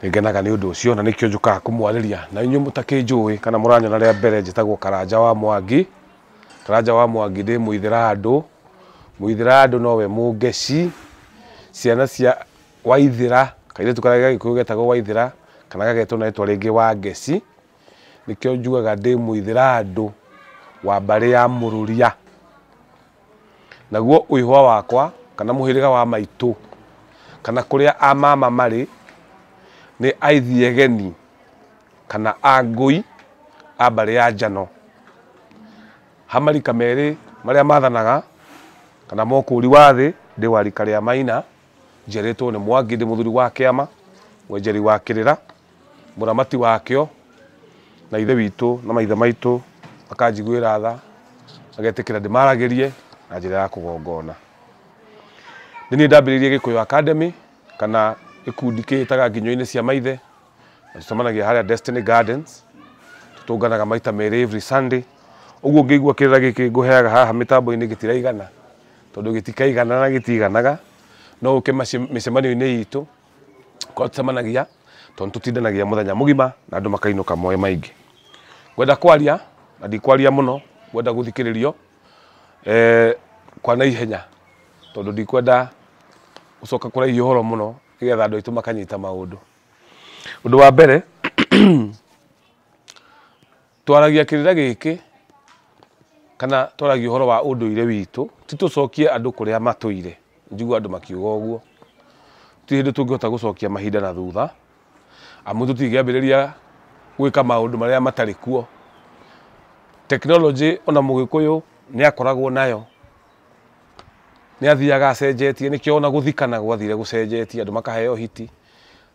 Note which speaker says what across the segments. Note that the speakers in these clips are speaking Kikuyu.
Speaker 1: nĩngenaga nĩ ũndũ ũcio na nĩkĩo njũkaga kũmwarĩria na inyuĩ mũtakĩnjũĩ kana mũranyona rĩa mbere njĩtagwo karanja wa mwangi karanja wa mwangi ndĩ mũithĩra andũ mũithĩra andũ nowe mũngeci ciana cia waithĩra kairĩtu karĩa ga gĩkũyũ getagwo waithĩra kana gagetwo na rĩtwa rĩngĩ wa ngeci nĩkĩo njugaga ndĩ mũithĩra andũ wa mbarĩ ya mũrũria Naguo ũihwa wakwa, kana mũhĩrĩga wa maitũ, kana kũrĩa a mama marĩ, nĩ Aithiegeni, kana Angũi a mbarĩ ya Njano. Ha marika merĩ marĩa mathanaga, kana mũkũri wa thĩ, ndĩ wa rika rĩa Maina, njiarĩtwo nĩ Mwangi, ndĩ mũthuri wa kĩama, mwenjeri wa kĩrĩra. mũramati wakĩo na ithe witũ na maithe maitũ makanjiguĩra tha magetĩkĩra ndĩmaragĩrie na njĩra ya kũgongona nĩ niĩ ndambĩrĩirie gĩkũyũ academy kana gĩkundi kĩhĩtaga nginyo-inĩ cia maithe na tũcemanagia harĩa destiny gardens tũtũnganaga maita merĩ every sunday ũguo ngĩigua kĩrĩra gĩkĩ ngũheaga haha mĩtambo-inĩ gĩtiraigana tondũ gĩtikaigana na gĩtiiganaga no ũke mace- mĩcemanio-inĩ itũ korwo tũcemanagia tondũ tũtindanagia mũthenya mũgima na andũ makainũka moĩ maingĩ ngwenda kwaria na ndikwaria mũno ngwenda gũthikĩrĩrio eh, kwa naihenya tondũ ndikwenda gũcoka kũraihi ũhoro mũno nĩgetha andũ aitũ makanyita maũndũ ũndũ wa mbere Twaragia kĩrĩra gĩkĩ kana twaragia ũhoro wa ũndũire witũ, ti tũcokie andũ kũrĩa matũire, njiguaga andũ makiuga ũguo. Gũtirĩ hĩndĩ tũngĩhota gũcokia mahinda na thutha, amu tũtingĩambĩrĩria gwĩka maũndũ marĩa matarĩ kuo. Tekinoronjĩ ona mũgĩkũyũ nĩ akoragwo nayo, nĩ athiaga acenjetie, nĩkĩo ona gũthikana gwathire gũcenjetie andũ makaheo ũhiki,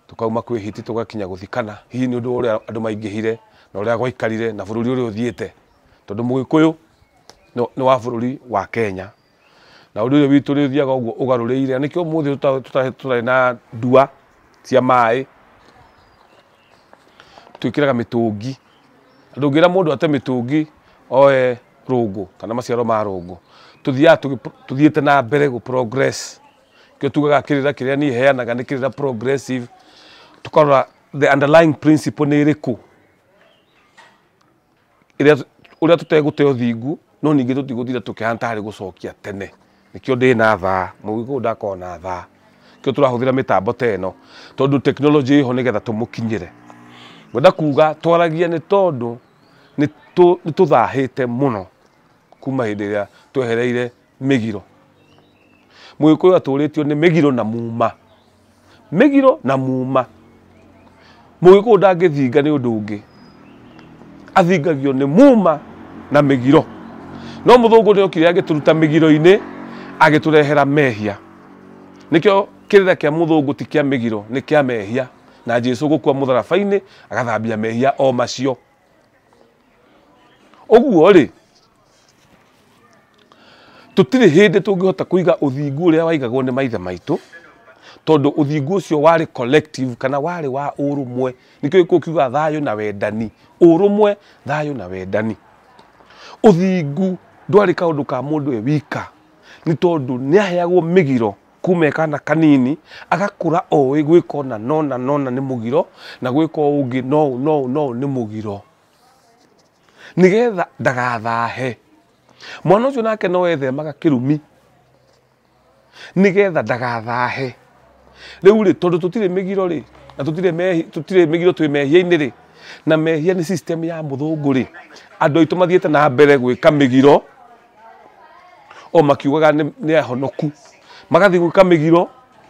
Speaker 1: Tũkauma kwĩ Hiti tũgakinya gũthi Kana, hihi nĩ ũndũ wa ũrĩa andũ maingĩhire, na ũrĩa gwaikarire, na bũrũri ũrĩa ũthiĩte, tondũ Mũgĩkũyũ nĩ wa bũrũri wa Kenya, na ũndũ ũyũ witũ ũrĩthiaga ũguo ũgarũrĩire, na nĩkĩo ũmũthĩ tũtarĩ na ndua cia maĩ, twĩkĩraga mĩtũngi, ndũngĩra mũndũ ate mĩtũngi oe rũngũ, kana maciaro ma rũngũ, tũthiaga tũthiĩte na mbere gũ progress. kĩo tugaga kĩrĩra kĩrĩa niĩ heanaga nĩ kĩrĩra progressive tũkarora the underlying principle nĩ ĩrĩkũ ĩrĩa ũrĩa tũtegũte ũthingu no ningĩ tũtigũtira tũkĩhana tarĩ gũcokia tene nĩkĩo ndĩ na thaa mũgĩkũyũ ndakorwo na thaa kĩo tũrahũthĩra mĩtambo ta ĩno tondũ tekinoronjĩ ĩho nĩgetha tũmũkinyĩre ngwenda kuga twaragia nĩ tondũ nĩ tũ- nĩ tũthahĩte mũno kuma hĩndĩ ĩrĩa twehereire mĩgiro mũgĩkũyũ atũrĩtio nĩ mĩgiro na muma mĩgiro na muma mũgĩkũyũ ndangĩthinga nĩ ũndũ ũngĩ athingagio nĩ muma na mĩgiro no mũthũngũ nĩ okire agĩtũruta mĩgiro-inĩ agĩtũrehera mehia nĩkĩo kĩrĩra kĩa mũthũngũ ti kĩa mĩgiro nĩ kĩa mehia na jesu gũkua mũtharaba-inĩ agathambia mehia o macio ũguo rĩ Tũtirĩ hĩndĩ tũngĩhota kũiga ũthingu ũrĩa waigagwo nĩ maithe maitũ tondũ ũthingu ũcio warĩ collective kana warĩ wa ũrũmwe. Nĩkĩo gĩkũyũ kiuga thayũ na wendani, ũrũmwe, thayũ na wendani. Ũthingu ndwarĩ kaũndũ ka mũndũ e wika nĩ tondũ nĩ aheagwo mĩgiro kuma e kana kanini agakũra oĩ gwĩka ũna na ũna na ũna nĩ mũgiro na gwĩka ũũ ũngĩ na ũũ na ũũ nĩ mũgiro. nĩgetha ndagathahe mwana ũcio nake no ethemaga kĩrumi nĩgetha ndagathahe rĩu rĩ tondũ tũtirĩ mĩgiro rĩ na tũtirĩ mehi tũtirĩ mĩgiro twĩ mehia-inĩ rĩ na mehia nĩ system ya mũthũngũ rĩ andũ aitũ mathiĩte na mbere gwĩka mĩgiro o makiugaga nĩ nĩ ahonoku magathiĩ gwĩka mĩgiro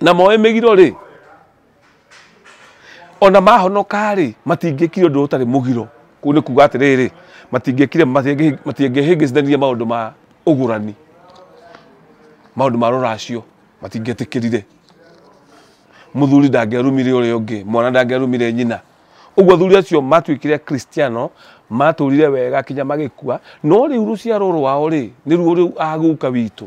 Speaker 1: na moe mĩgiro rĩ ona mahonoka rĩ matingĩkire ũndũ ũtarĩ mũgiro kũu nĩ kuga atĩrĩrĩ matingĩkire matingĩhĩngĩcithanirie maũndũ ma ũgũrani maũndũ ma rũracio matingĩetĩkĩrire mũthuri ndangĩarumire ũrĩa ũngĩ mwana ndangĩarumire nyina ũguo athuri acio matuĩkire kristiano matũrire wega kinya magĩkua no rĩu rũciaro rwao rĩ nĩruo rĩu agũka witũ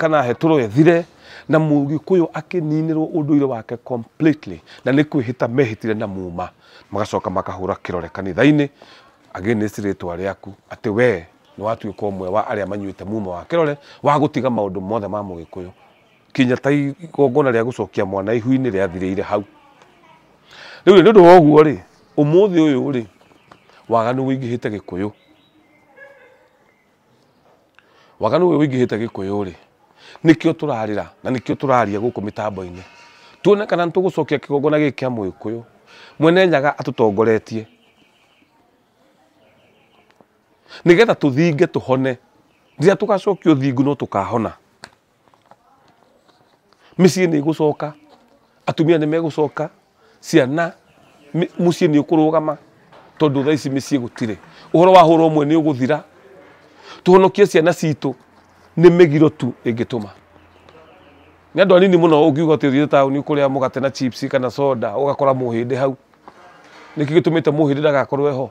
Speaker 1: kana hetũrũ ethire na mũgĩkũyũ akĩninĩrwo ũndũire wake completely na nĩ kwĩhĩta mehĩtire na muma magacoka makahũra kĩrore kanitha-inĩ against rĩtwa rĩaku atĩ wee nĩ watuĩka ũmwe wa arĩa manyuĩte muma wa kĩrore wa gũtiga maũndũ mothe ma mũgĩkũyũ kinya ta igongona rĩa gũcokia mwana ihu-inĩ rĩathirĩire hau rĩu nĩ ũndũ wa ũguo rĩ ũmũthĩ ũyũ rĩ waganu ũingĩhĩte gĩkũyũ Waganu ũyũ ũingĩhĩte gĩkũyũ-rĩ, nĩkĩo tũrarĩra na nĩkĩo tũraria gũkũ mĩtambo-inĩ, tuone kana nĩ tũgũcokia kĩgongona gĩkĩ kĩa mũgĩkũyũ. Mwene Nyaga atũtongoretie nĩgetha tũthinge tũhone, rĩrĩa tũgacokio thingo no tũkahona. mĩciĩ nĩ ĩgũcoka, atumia nĩ megũcoka, ciana mũciĩ nĩ ũkũrũgama tondũ thaa ici mĩciĩ gũtirĩ. Ũhoro wa hũra ũmwe nĩ ũgũthira. Tũhonokie ciana citũ nĩ mĩgiro tu ĩngĩtũma. Nĩ andũ anini mũno ũngiuga atĩ ũthiĩte taũni ũkũrĩa mũgate na chips kana soda ũgakora mũhĩndĩ hau. Nĩkĩo gĩtũmĩte mũhĩndĩ ndagakorwo e ho.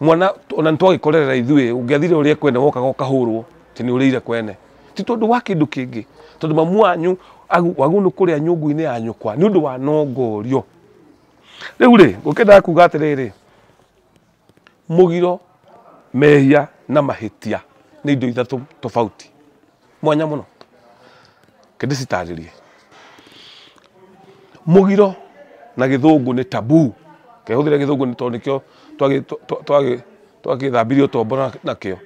Speaker 1: mwana ona nitwagikorerera ithuĩ ũngĩathire ũrĩe kwene wokaga ũkahũrwo atĩ nĩ ũrĩire kwene ti tondũ wa kĩndũ kĩngĩ tondũ mamu wanyu agu- wagu nĩ kũrĩa nyũngũ-inĩ ya nyũkwa nĩ ũndũ wa nongorio rĩu rĩ ũkĩendaga kuga atĩrĩrĩ mũgiro mehia na mahĩtia nĩ indo ithatũ tofauti mwanya mũno kĩndĩcitarĩrie mũgiro na gĩthũngũ nĩ tabu kehũthĩre gĩthũngũ nĩ tondũ nĩkĩo twagĩ- twa- twagĩ- twagĩthambirie ũtombo na- nakĩo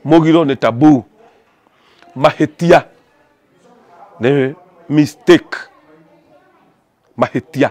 Speaker 1: mũgiro nĩ tabu mahĩtia nĩ mistake mahĩtia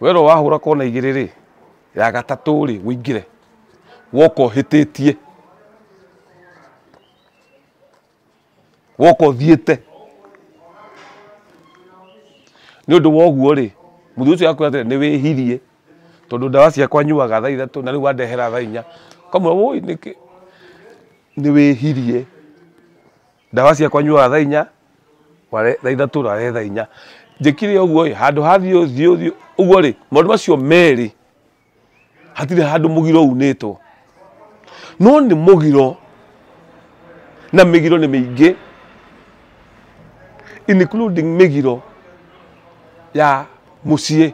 Speaker 1: werwo wahũra kona igĩrĩ rĩ ya gatatũ rĩ wĩingĩre woka ũhĩtĩtie woka ũthiĩte nĩ ũndũ woguo rĩ mũthĩ ũcio akwĩra atĩrĩ nĩ wĩhirie tondũ ndawa ciakwa nyuaga thaa ithatũ na rĩu wandehera thaa inya kamwe wũi nĩkĩ nĩ wĩhirie ndawa ciakwa nyuaga thaa inya ware thaa ithatũ rare thaa inya njĩkire ũguo ĩ handũ hathiĩ ũthiĩ ũthiĩ ũguo rĩ maũndũ macio merĩ hatirĩ handũ mũgiro unĩtwo no nĩ mũgiro na mĩgiro nĩ mĩingĩ including mĩgiro ya mũciĩ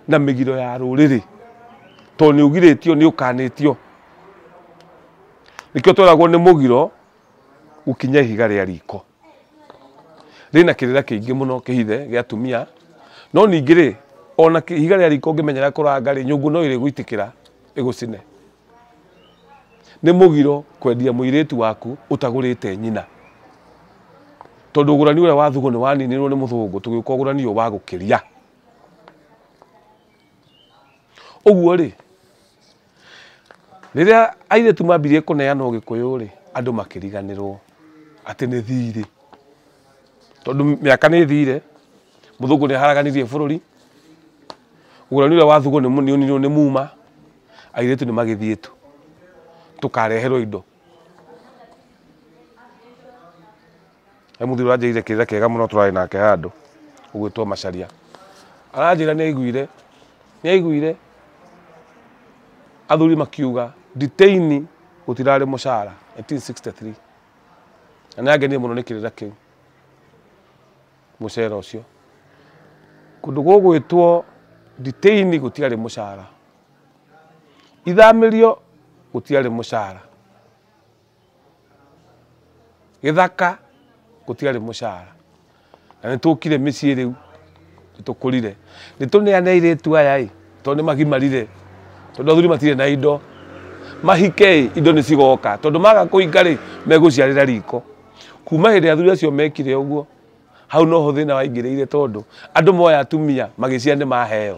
Speaker 1: na mĩgiro ya rũrĩrĩ tondũ nĩ ũgirĩtio nĩ ũkanĩtio Nĩkĩo tweragwo nĩ mũgiro gũkinya ihiga rĩa riko. Rĩna kĩrĩra kĩingĩ mũno kĩhithe gĩa atumia, no ningĩ rĩ, ona ihiga rĩa riko ũngĩmenyera kũranga rĩ, nyũngũ no ĩrĩgũitĩkĩra ĩgũcine. Nĩ mũgiro kwendia mũirĩtu waku ũtagũrĩte nyina. Tondũ ũgũrani ũrĩa wa thugu nĩ waninirwo nĩ mũthũngũ tũgĩũka ũgũrani ũyũ wa gũkĩria. Ũguo rĩ, rĩrĩa airĩtu mambirie kũneana ũgĩkũyũ rĩ andũ makĩriganĩrwo atĩ nĩ thirĩ tondũ mĩaka nĩ thire mũthũngũ nĩ aharaganirie bũrũri ũrani ũrĩa wathugwo nĩ ũninirwo nĩ muma airĩtu nĩ magĩthiĩ tu tũkareherwo indo he mũthuri ũranjĩrĩire kĩrĩra kĩega mũno tũrarĩ nake handũ ũgwĩtwo macaria aranjĩra nĩ aiguire nĩ aiguire athuri makiuga nditeini gũtirarĩ mũcara 1963 na nĩ angenie mũno nĩ kĩrĩra kĩu mũcera ũcio kũndũ gũgwĩtwo nditeini gũtiarĩ mũcara ithamĩrio gũtiarĩ mũcara Gĩthaka gũtiarĩ mũcara na nĩ tũkire mĩciĩ rĩu nĩ tũkũrire. Nĩ tũneane airĩtu aya ĩ tondũ nĩ magimarire, tondũ athuri matirĩ na indo. Mahike ĩ indo nĩ cigoka tondũ maga kũhika rĩ megũciarĩra riko. Kuma hĩndĩ ĩrĩa athuri acio mekire ũguo hau noho thĩna waingĩrĩire tondũ andũ moya atumia magĩciara nĩ maheo.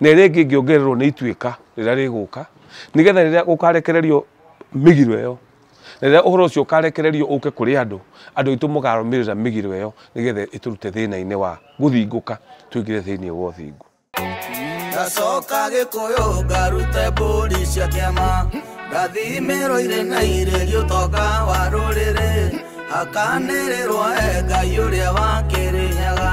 Speaker 1: na ĩrĩa ĩngĩ ĩngĩongererwo nĩ ituĩka rĩrĩa rĩgũka nĩgetha rĩrĩa gũkarekererio mĩgiro ĩyo na rĩrĩa ũhoro ũcio ũkarekererio ũke kũrĩ andũ andũ aitũ mũkarũmĩrĩra mĩgiro ĩyo nĩgetha ĩtũrute thĩna-inĩ wa gũthingũka twĩngĩre thĩinĩ wa ũthingu ngacoka
Speaker 2: gĩkũyũ ngarute mbũri cia kĩama ngathimĩrwo irĩ na irĩ gĩũtonga wa rũrĩrĩ hakanĩrĩrwo e ngai ũrĩa wakĩrĩnyaga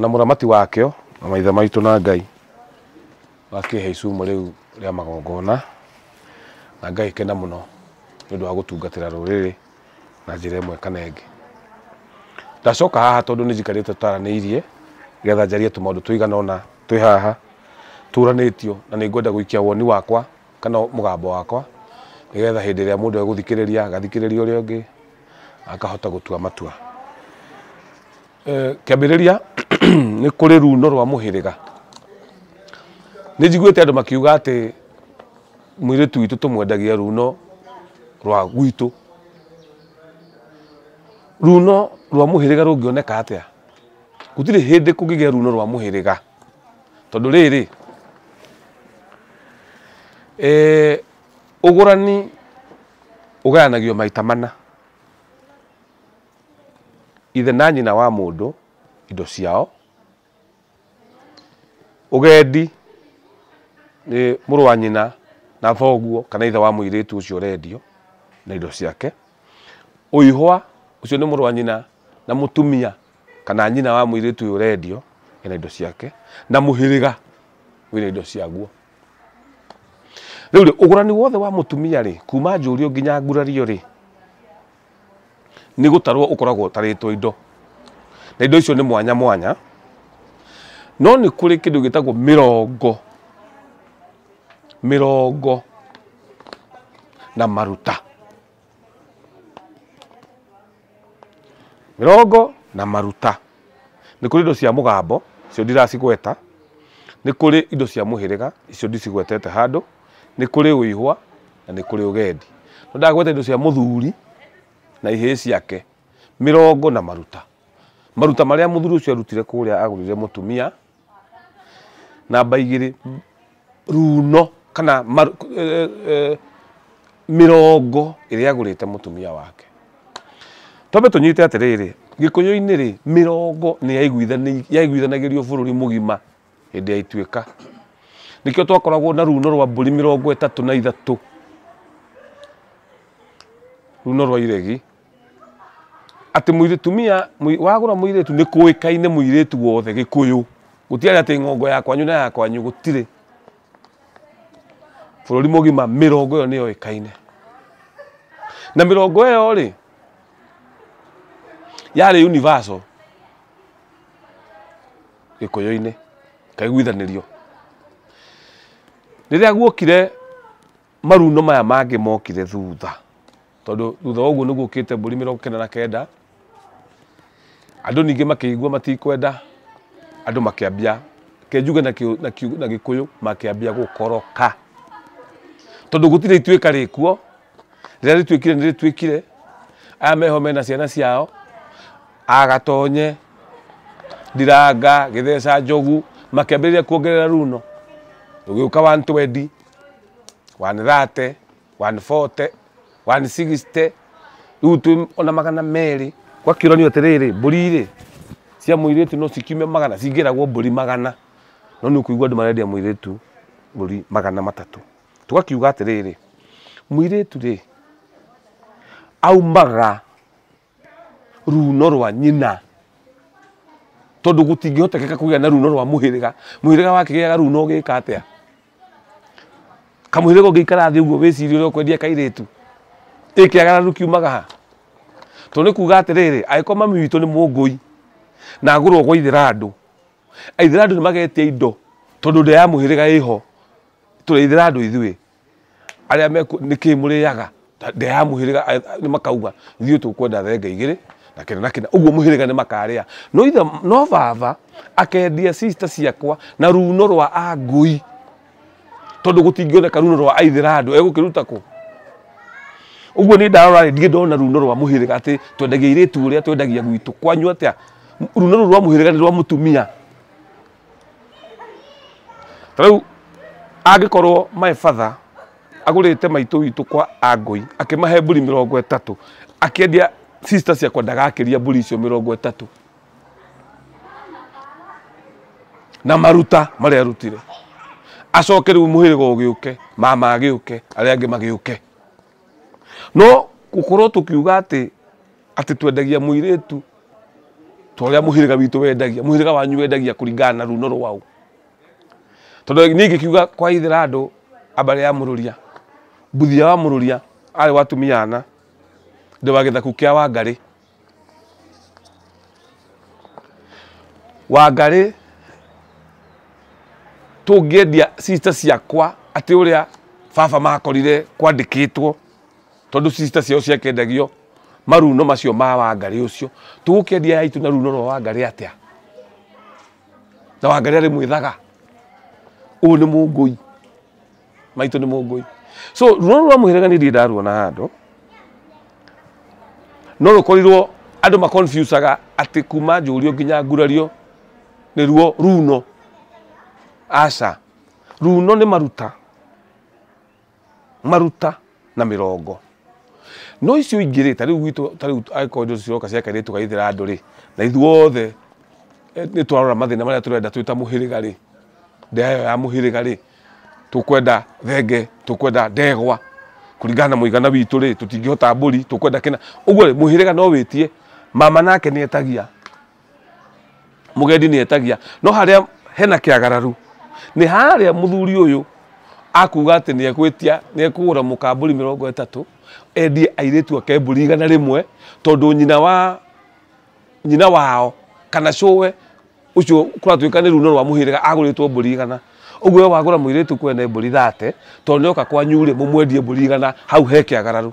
Speaker 1: na mũthamati wakĩo na maithe maitũ na Ngai wakĩhe icumo rĩu rĩa magongona na ngagĩkena mũno nĩ ũndũ wa gũtungatĩra rũrĩrĩ na njĩra ĩmwe kana ĩngĩ. Ndacoka haha tondũ nĩ njikarĩte tũtaranĩirie nĩgetha njarie tũmaũndũ tũigana ũna twĩ haha tũranĩtio na nĩ ngwenda gũikia woni wakwa kana mũgambo wakwa nĩgetha hĩndĩ ĩrĩa mũndũ egũthikĩrĩria agathikĩrĩria ũrĩa ũngĩ akahota gũtua matua. Eh, kĩambĩrĩria nĩ kũrĩ runo rwa mũhĩrĩga nĩ njiguĩte andũ makiuga atĩ mwĩrĩtu witũ tũmwendagia runo rwa gwitũ runo rwa mũhĩrĩga rũngĩoneka atĩa gũtirĩ hĩndĩ kũngĩgĩa runo rwa mũhĩrĩga tondũ rĩrĩ eh, ũgũrani ũgayanagio maita mana ithe na nyina wa mũndũ indo ciao. Ũgendi nĩ mũrũ wa nyina na thoguo kana ithe wa mũirĩtu ũcio ũrendio na indo ciake. Ũihwa ũcio nĩ mũrũ wa nyina na mũtumia kana nyina wa mũirĩtu ũyũ ũrendio ena indo ciake, na mũhĩrĩga wĩna indo ciaguo. Rĩu rĩ, ũgũrani wothe wa mũtumia rĩ, kuma njũrio nginya ngurario rĩ, nĩ gũtarwo ũkoragwo ũtarĩtwo indo na indo icio nĩ mwanya mwanya no nĩ kũrĩ kĩndũ gĩtagwo mĩrongo mĩrongo na maruta mĩrongo na maruta nĩ kũrĩ indo cia mũgambo icio ndiracigweta nĩ kũrĩ indo cia mũhĩrĩga icio ndicigwetete handũ. nĩ kũrĩ ũihwa na nĩ kũrĩ ũgendi. Nĩ endaga gweta indo cia mũthuri na ihĩĩ ciake, mĩrongo na maruta. Maruta marĩa mũthuri ũcio arutire kũrĩa agũrĩre mũtumia, namba igĩrĩ, runo kana mĩrongo ĩrĩa agũrĩte mũtumia wake. Twambe tũnyite atĩrĩrĩ, Gĩkũyũ-inĩ rĩ, mĩrongo nĩ yaiguithanagĩrio bũrũri mũgima hĩndĩ ya ituĩka nĩkĩo twakoragwo na runo rwa mbũri mĩrongo ĩtatũ na ithatũ runo rwa iregi atĩ mũirĩtumia mũi- wagũra mũirĩtu nĩ kũĩkaine mũirĩtu wothe gĩkũyũ gũtiarĩ atĩ ng'ongo ya kwanyu na ya kwanyu gũtirĩ bũrũri mũgima mĩrongo ĩyo nĩyo ĩkaine na mĩrongo ĩyo rĩ yarĩ universal gĩkũyũ-inĩ, kaiguithanĩrio. Rĩrĩa guokire maruno maya mangĩ mokire thutha, tondũ thutha wa ũguo nĩ guokĩte mbũri mĩrongo kenda na kenda, andũ ningĩ makĩigua matikwenda, andũ makĩambia, reke njuge na kĩ- na kĩ- na gĩkũyũ, makĩambia gũkoroka. Tondũ gũtirĩ ituĩka rĩkuo, rĩrĩa rĩtuĩkire nĩ rĩtuĩkire aya meho mena ciana ciao agatonye ndiranga gĩtheca njogu makĩambĩrĩria kuongerera runo ũgĩũka 120 130 140 160 rĩu twĩ ona magana merĩ gwakĩũranio atĩrĩrĩ mbũri rĩ cia mũirĩtu no cikiume magana cingĩragwo mbũri magana no nĩ ũkũigua andũ marendia mũirĩtu mbũri magana matatũ tũgakiuga atĩrĩrĩ, mũirĩtu-rĩ, aumaga ruuno rwa nyina, tondũ gũtingĩhotekeka kũgĩa na ruuno rwa mũhĩrĩga. Mũhĩrĩga wakĩgĩaga ruuno ũgĩka atĩa? Kamũhĩrĩga ũngĩikara thĩ ũguo wĩcirie ũrĩa ũkwendia kairĩtu, ĩ kĩagararu kiumaga ha? To nĩ kuuga atĩrĩrĩ, angĩkorwo mami witũ nĩ mũngũi, na agũrwo gwa ithĩrandũ, aithĩrandũ nĩ magetia indo, tondũ nda ya mũhĩrĩga ĩho. tũrĩithĩra andũ ithuĩ arĩa meku nĩ kĩĩ mũrĩaga Ta- ndĩa ya mũhĩrĩga a- a- nĩ makauga ithuĩ tũkwenda thenge igĩrĩ na kĩna na kĩna ũguo mũhĩrĩga nĩ makarĩa no ithe no baba akendia sister ciakwa na runo rwa angũi tondũ gũtingĩoneka runo rwa aithĩra andũ egũkĩruta kũ ũguo nĩ ndarora ndirĩ ndona runo rwa mũhĩrĩga atĩ twendagia irĩtu ũrĩa twendagia gwitũ kwanyu atĩa runo rũu rwa mũhĩrĩga nĩ rwa mũtumia Ta rĩu angĩkorwo my father agũrĩte maitũ witũ kwa angũi akĩmahe mbũri mĩrongo ĩtatũ akĩendia sister ciakwa ndagakĩria mbũri icio mĩrongo ĩtatũ na maruta marĩa arutire acoke rĩu mũhĩrĩga ũgĩũke mama agĩũke arĩa angĩ magĩũke No gũkorwo tũkiuga atĩ, atĩ twendagia mũirĩtu ta ũrĩa mũhĩrĩga witũ wendagia, mũhĩrĩga wanyu wendagia kũringana na ruuno rwaũ? Tondũ niĩ ingĩkiuga kwa ithe wa andũ a mbarĩ ya mũrũria, mbuthia wa mũrũria arĩ wa atumia ana, ndĩ wa gĩthaku kĩa Wangarĩ. Wangarĩ, tũngĩendia sister ciakwa atĩ ũrĩa baba makorire kwandĩkĩtwo tondũ sister ciao ciakendagio maruno macio ma Wangarĩ ũcio, tũgũkĩendia ya itũ na runo rwa Wangarĩ atĩa? Na Wangarĩ arĩ mwĩthaga? Ũyũ nĩ mũngũi. maitũ nĩ mũngũi so rũrũ rwa mũhĩrĩga nĩ ndiĩ ndaruona handũ no rũkorirwo andũ maconfusaga atĩ kuma njũrio nginya ngurario nĩruo runo aca runo nĩ maruta maruta na mĩrongo no icio ingĩ rĩ tarĩu gwitũ tarĩu angĩkorwo indo ciroka cia kairĩtu gaithĩra andũ rĩ na ithuothe eh, nĩ twarora mathĩna marĩa tũrenda twĩta mũhĩrĩga rĩ ndeya ĩyo ya mũhĩrĩga rĩ tũkwenda thenge tũkwenda ndegwa kũringana na mũigana witũ rĩ tũtingĩhota mbũri tũkwenda kĩna ũguo rĩ mũhĩrĩga no wĩtie mama nake nĩ etagia mũgendi nĩ etagia no harĩa hena kĩagararu nĩ harĩa mũthuri ũyũ akuga atĩ nĩ egwĩtia nĩ ekũgũra mũka mbũri mĩrongo ĩtatũ endie airĩtu ake mbũri igana rĩmwe tondũ nyina wa nyina wao kana cũwe ũcio kũratuĩka nĩ runo rwa mũhĩrĩga agũrĩtwo mbũri igana ũguo we wagũra mũirĩtu kwene mbũri thate tondũ nĩ oka kwanyu rĩ mũmwendie mbũri igana hau he kĩagararu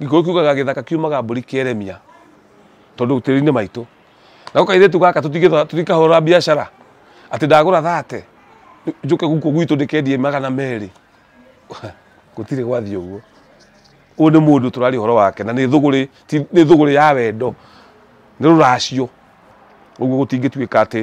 Speaker 1: Gĩkũyũ kiugaga gĩthaka kiumaga mbũri kĩeremia tondũ tĩri-inĩ maitũ. Nako kairĩtu gaka tũtikahũra biacara atĩ ndagũra thate njũke gũkũ gwitũ ndĩkendie magana merĩ. Gũtirĩ gwathiĩ ũguo. Ũyũ nĩ mũndũ tũraria ũhoro wake na nĩ thũgũrĩ, nĩ thũgũrĩ ya wendo, nĩ rũracio. Ũguo gũtingĩtuĩka atĩ...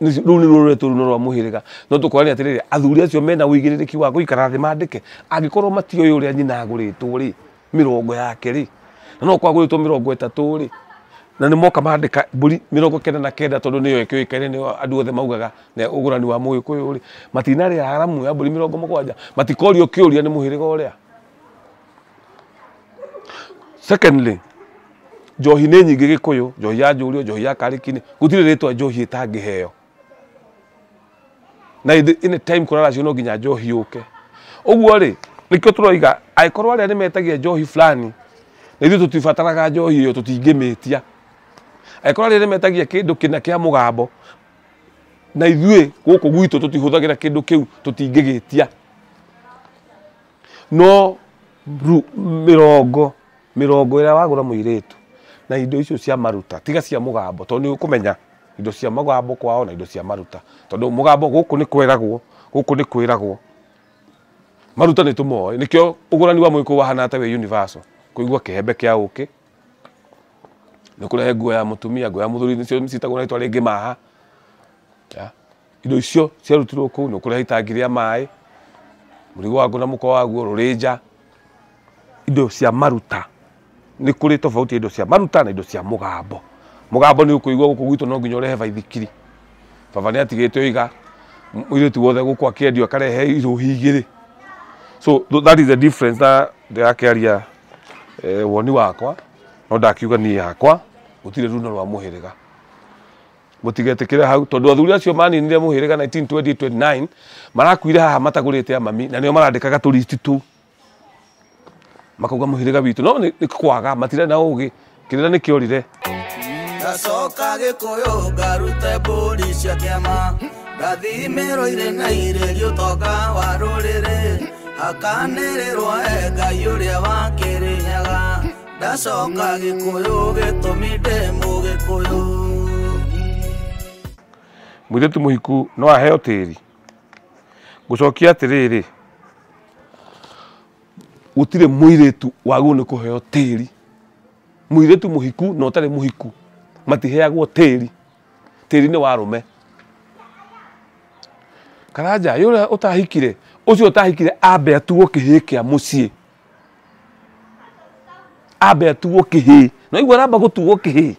Speaker 1: Nĩ- rũu nĩruo rũretu rũu nĩ rwa mũhĩrĩga no tũkorania atĩrĩrĩ athuri acio mena ũigĩrĩrĩki wa gũikara thĩ mandĩke angĩkorwo matiũĩ ũrĩa nyina agũrĩtwo rĩ mĩrongo yake rĩ na no gũkorwo agũrĩtwo mĩrongo ĩtatũ rĩ na nĩ moka mandĩka mbũri mĩrongo kenda na kenda tondũ nĩyo ĩkĩũĩkaine nĩyo andũ othe maugaga na ũgũrani wa mũgĩkũyũ rĩ matinarĩa haramu ya mbũri mĩrongo mũgwanja matikorio kĩũria nĩ mũhĩrĩga ũrĩa. Secondly, njohi nĩ nyingĩ Gĩkũyũ, njohi ya njũriũ, njohi ya karĩki-inĩ, gũtirĩ rĩtwa njohi ĩtangĩheo. Na ĩndĩ in time kũraracio no nginya njohi yũke. Ũguo rĩ, nĩkĩo tũroiga angĩkorwo arĩa nĩ metagia njohi fulani, na ithuĩ tũtibataraga njohi ĩyo tũtingĩmĩtia. Angĩkorwo arĩa nĩ metagia kĩndũ kĩna kĩa mũgambo, na ithuĩ gũkũ gwitũ tũtihũthagĩra kĩndũ kĩu tũtingĩgĩtia. No rĩu mĩrongo, mĩrongo ĩrĩa wagũra mũirĩtu na indo icio cia maruta, tiga cia mũgambo tondũ nĩ ũkũmenya indo cia mũgambo kwao na indo cia maruta. Tondũ mũgambo gũkũ nĩ kweragwo, gũkũ nĩ kwĩragwo. Maruta nĩ tũmoĩ, nĩkĩo ũgũrani wa mũgĩkũyũ wahanaga ta wĩ universal. Kũigua kĩhembe kĩa ũkĩ, nĩ ũkũrehe nguo ya mũtumia, nguo ya mũthuri nĩcio ciĩtagwo na rĩtwa rĩngĩ maha. indo icio ciarutirwo kũu nĩ ũkũreha itangi rĩa maĩ mũrigo waguo na mũko waguo rũrĩnja indo cia maruta nĩ kũrĩ tofauti ya indo cia maruta na indo cia mũgambo mũgambo nĩ ũkũigua gũkũ gwitũ no nginya ũrehe baithikiri baba nĩ atigĩte ũiga mũirĩtu wothe gũkũ akĩendio akarehe irũhi igĩrĩ so th- that is the difference na ndĩrakĩaria eh, woni wakwa no ndakiuga niĩ yakwa gũtirĩ runo rwa mũhĩrĩga Mũtigetĩkĩre hau, tondũ athuri acio maninire mũhĩrĩga 1920-29 marakuire haha matagũrĩte amami, na nĩo marandĩkaga tũristi tũu makauga mũhĩrĩga witũ, no nĩ kwaga matirarĩ na ũgĩ, kĩrĩra nĩ kĩorire. Ndacoka
Speaker 2: gĩkũyũ ngarute mbũri cia kĩama ndathimĩrwo irĩ na irĩ gĩũtonga wa rũrĩrĩ akanĩrĩrwo e ngai ũrĩa wa kĩrĩnyaga ndacoka
Speaker 1: gĩkũyũ gĩtũmi ndĩ mũgĩkũyũ mũirĩtu mũhiku no aheo tĩri ngũcokia atĩrĩrĩ gũtirĩ mũirĩtu wagwo nĩ kũheo tĩri mũirĩtu mũhiku na ũtarĩ mũhiku matiheagwo tĩri tĩri nĩ wa rũme karanja yũrĩa ũtahikire ũcio ũtahikire ambe atuo kĩhĩĩ kĩa mũciĩ ambe atuo kĩhĩ na igua aramba gũtuo kĩhĩ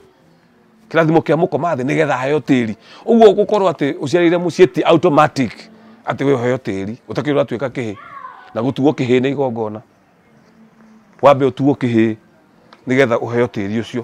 Speaker 1: kĩrathimo kĩa mũkoma thĩ nĩgetha aheo tĩri ũguo gũkorwo atĩ ũciarĩire mũciĩ ti automatic atĩ we ũheo tĩri ũtakĩrĩ ũratuĩka kĩhĩ na gũtuo kĩhĩ nĩ igongona wambe ũtuo kĩhĩ nĩgetha ũheo tĩri ũcio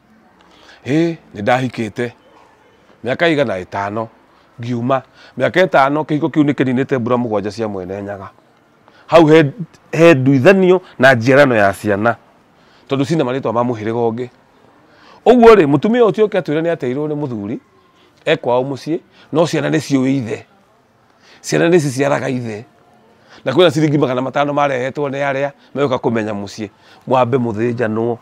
Speaker 1: Ĩĩ nĩ ndahikĩte, mĩaka ĩigana? Ĩtano. Ngiuma, mĩaka ĩtano kĩhiko kĩu nĩ kĩninĩte mbura mũgwanja cia Mwene Nyaga. Hau he, he nduithanio na njiarano ya ciana tondũ cina marĩtwa ma mũhĩrĩga ũngĩ. Ũguo rĩ, mũtumia ũcio oke atwĩre nĩ ateirwo nĩ mũthuri e kwao mũciĩ, no ciana nĩ ciũĩ ithe. Ciana nĩ ciciaraga ithe. Na kwĩna ciringi magana matano marehetwo nĩ arĩa megũka kũmenya mũciĩ. Mwambe mũthĩnjanwo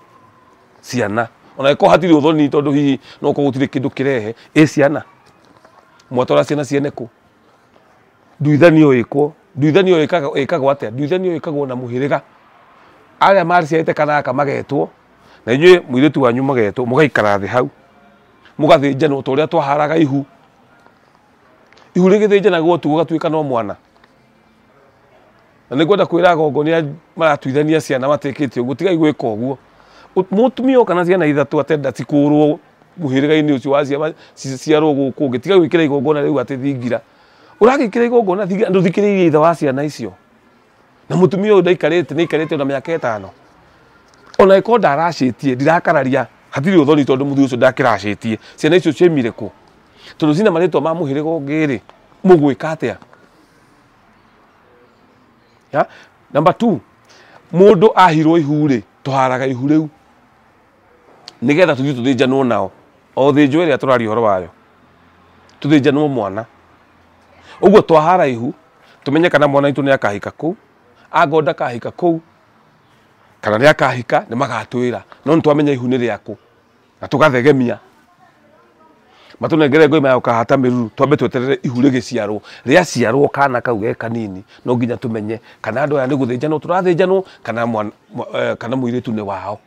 Speaker 1: ciana. Ona angĩkorwo hatirĩ ũthoni tondũ hihi no gũkorwo gũtirĩ kĩndũ kĩrehe. Ĩ ciana? Mwatwara ciana ciene kũ? Nduithanio ĩkwo. Nduithanio ĩkagwo ĩkagwo atĩa? Nduithanio ĩkagwo na mũhĩrĩga. Arĩa maciarĩte kana gaka magetwo, na inyuĩ mũirĩtu wanyu mũgetwo, mũgaikara thĩ hau. Mũgathĩnjanwo ta ũrĩa twaharaga ihu. Ihu rĩgĩthĩnjanagwo ũtukũ ũgatuĩka no mwana. Na nĩ kwenda kwĩra agongo nĩ maratuithania ciana matĩkĩtie ũguo, tigai gwĩka ũguo. Mũtumia oka na ciana ithatũ atenda cikũrwo mũhĩrĩga-inĩ ũcio wa ciana ciciarwo gũkũ ũngĩ, tiga gwĩkĩra igongona rĩu atĩ thingira. Ũragĩkĩra igongona thingira, ndũthikĩrĩirie ithe wa ciana icio. na mutumia uyu ndaikarite ni ikarite ona miaka itano ona iko ndaracitie ndirakararia hatiri uthoni tondu muthuri ucio ndakiracitie ciana icio ciaimire ku tondu cina maritwa ma muhiriga ungi ri mugwika atia ya number 2 mundu ahirwo ihu ri tuharaga ihu riu nigetha tuthii tuthinjanwo nao o thinjo iria turaria horo wayo tuthinjanwo mwana uguo twahara ihu tũmenye kana mwana witũ nĩ akahika kũu angorwo ndakahika kũu kana nĩ akahika nĩ magatwĩra no nĩ twamenya ihu nĩ rĩakũ na tũgathegemia matũnengere ngoi mayoka hata mĩruru twambe tweterere ihu rĩgĩciarwo rĩaciarwo kana kau ge kanini no nginya tũmenye kana andũ aya nĩ gũthĩnjanwo tũrathĩnjanwo kana mwana- mwa- eh, kana mũirĩtu nĩ wao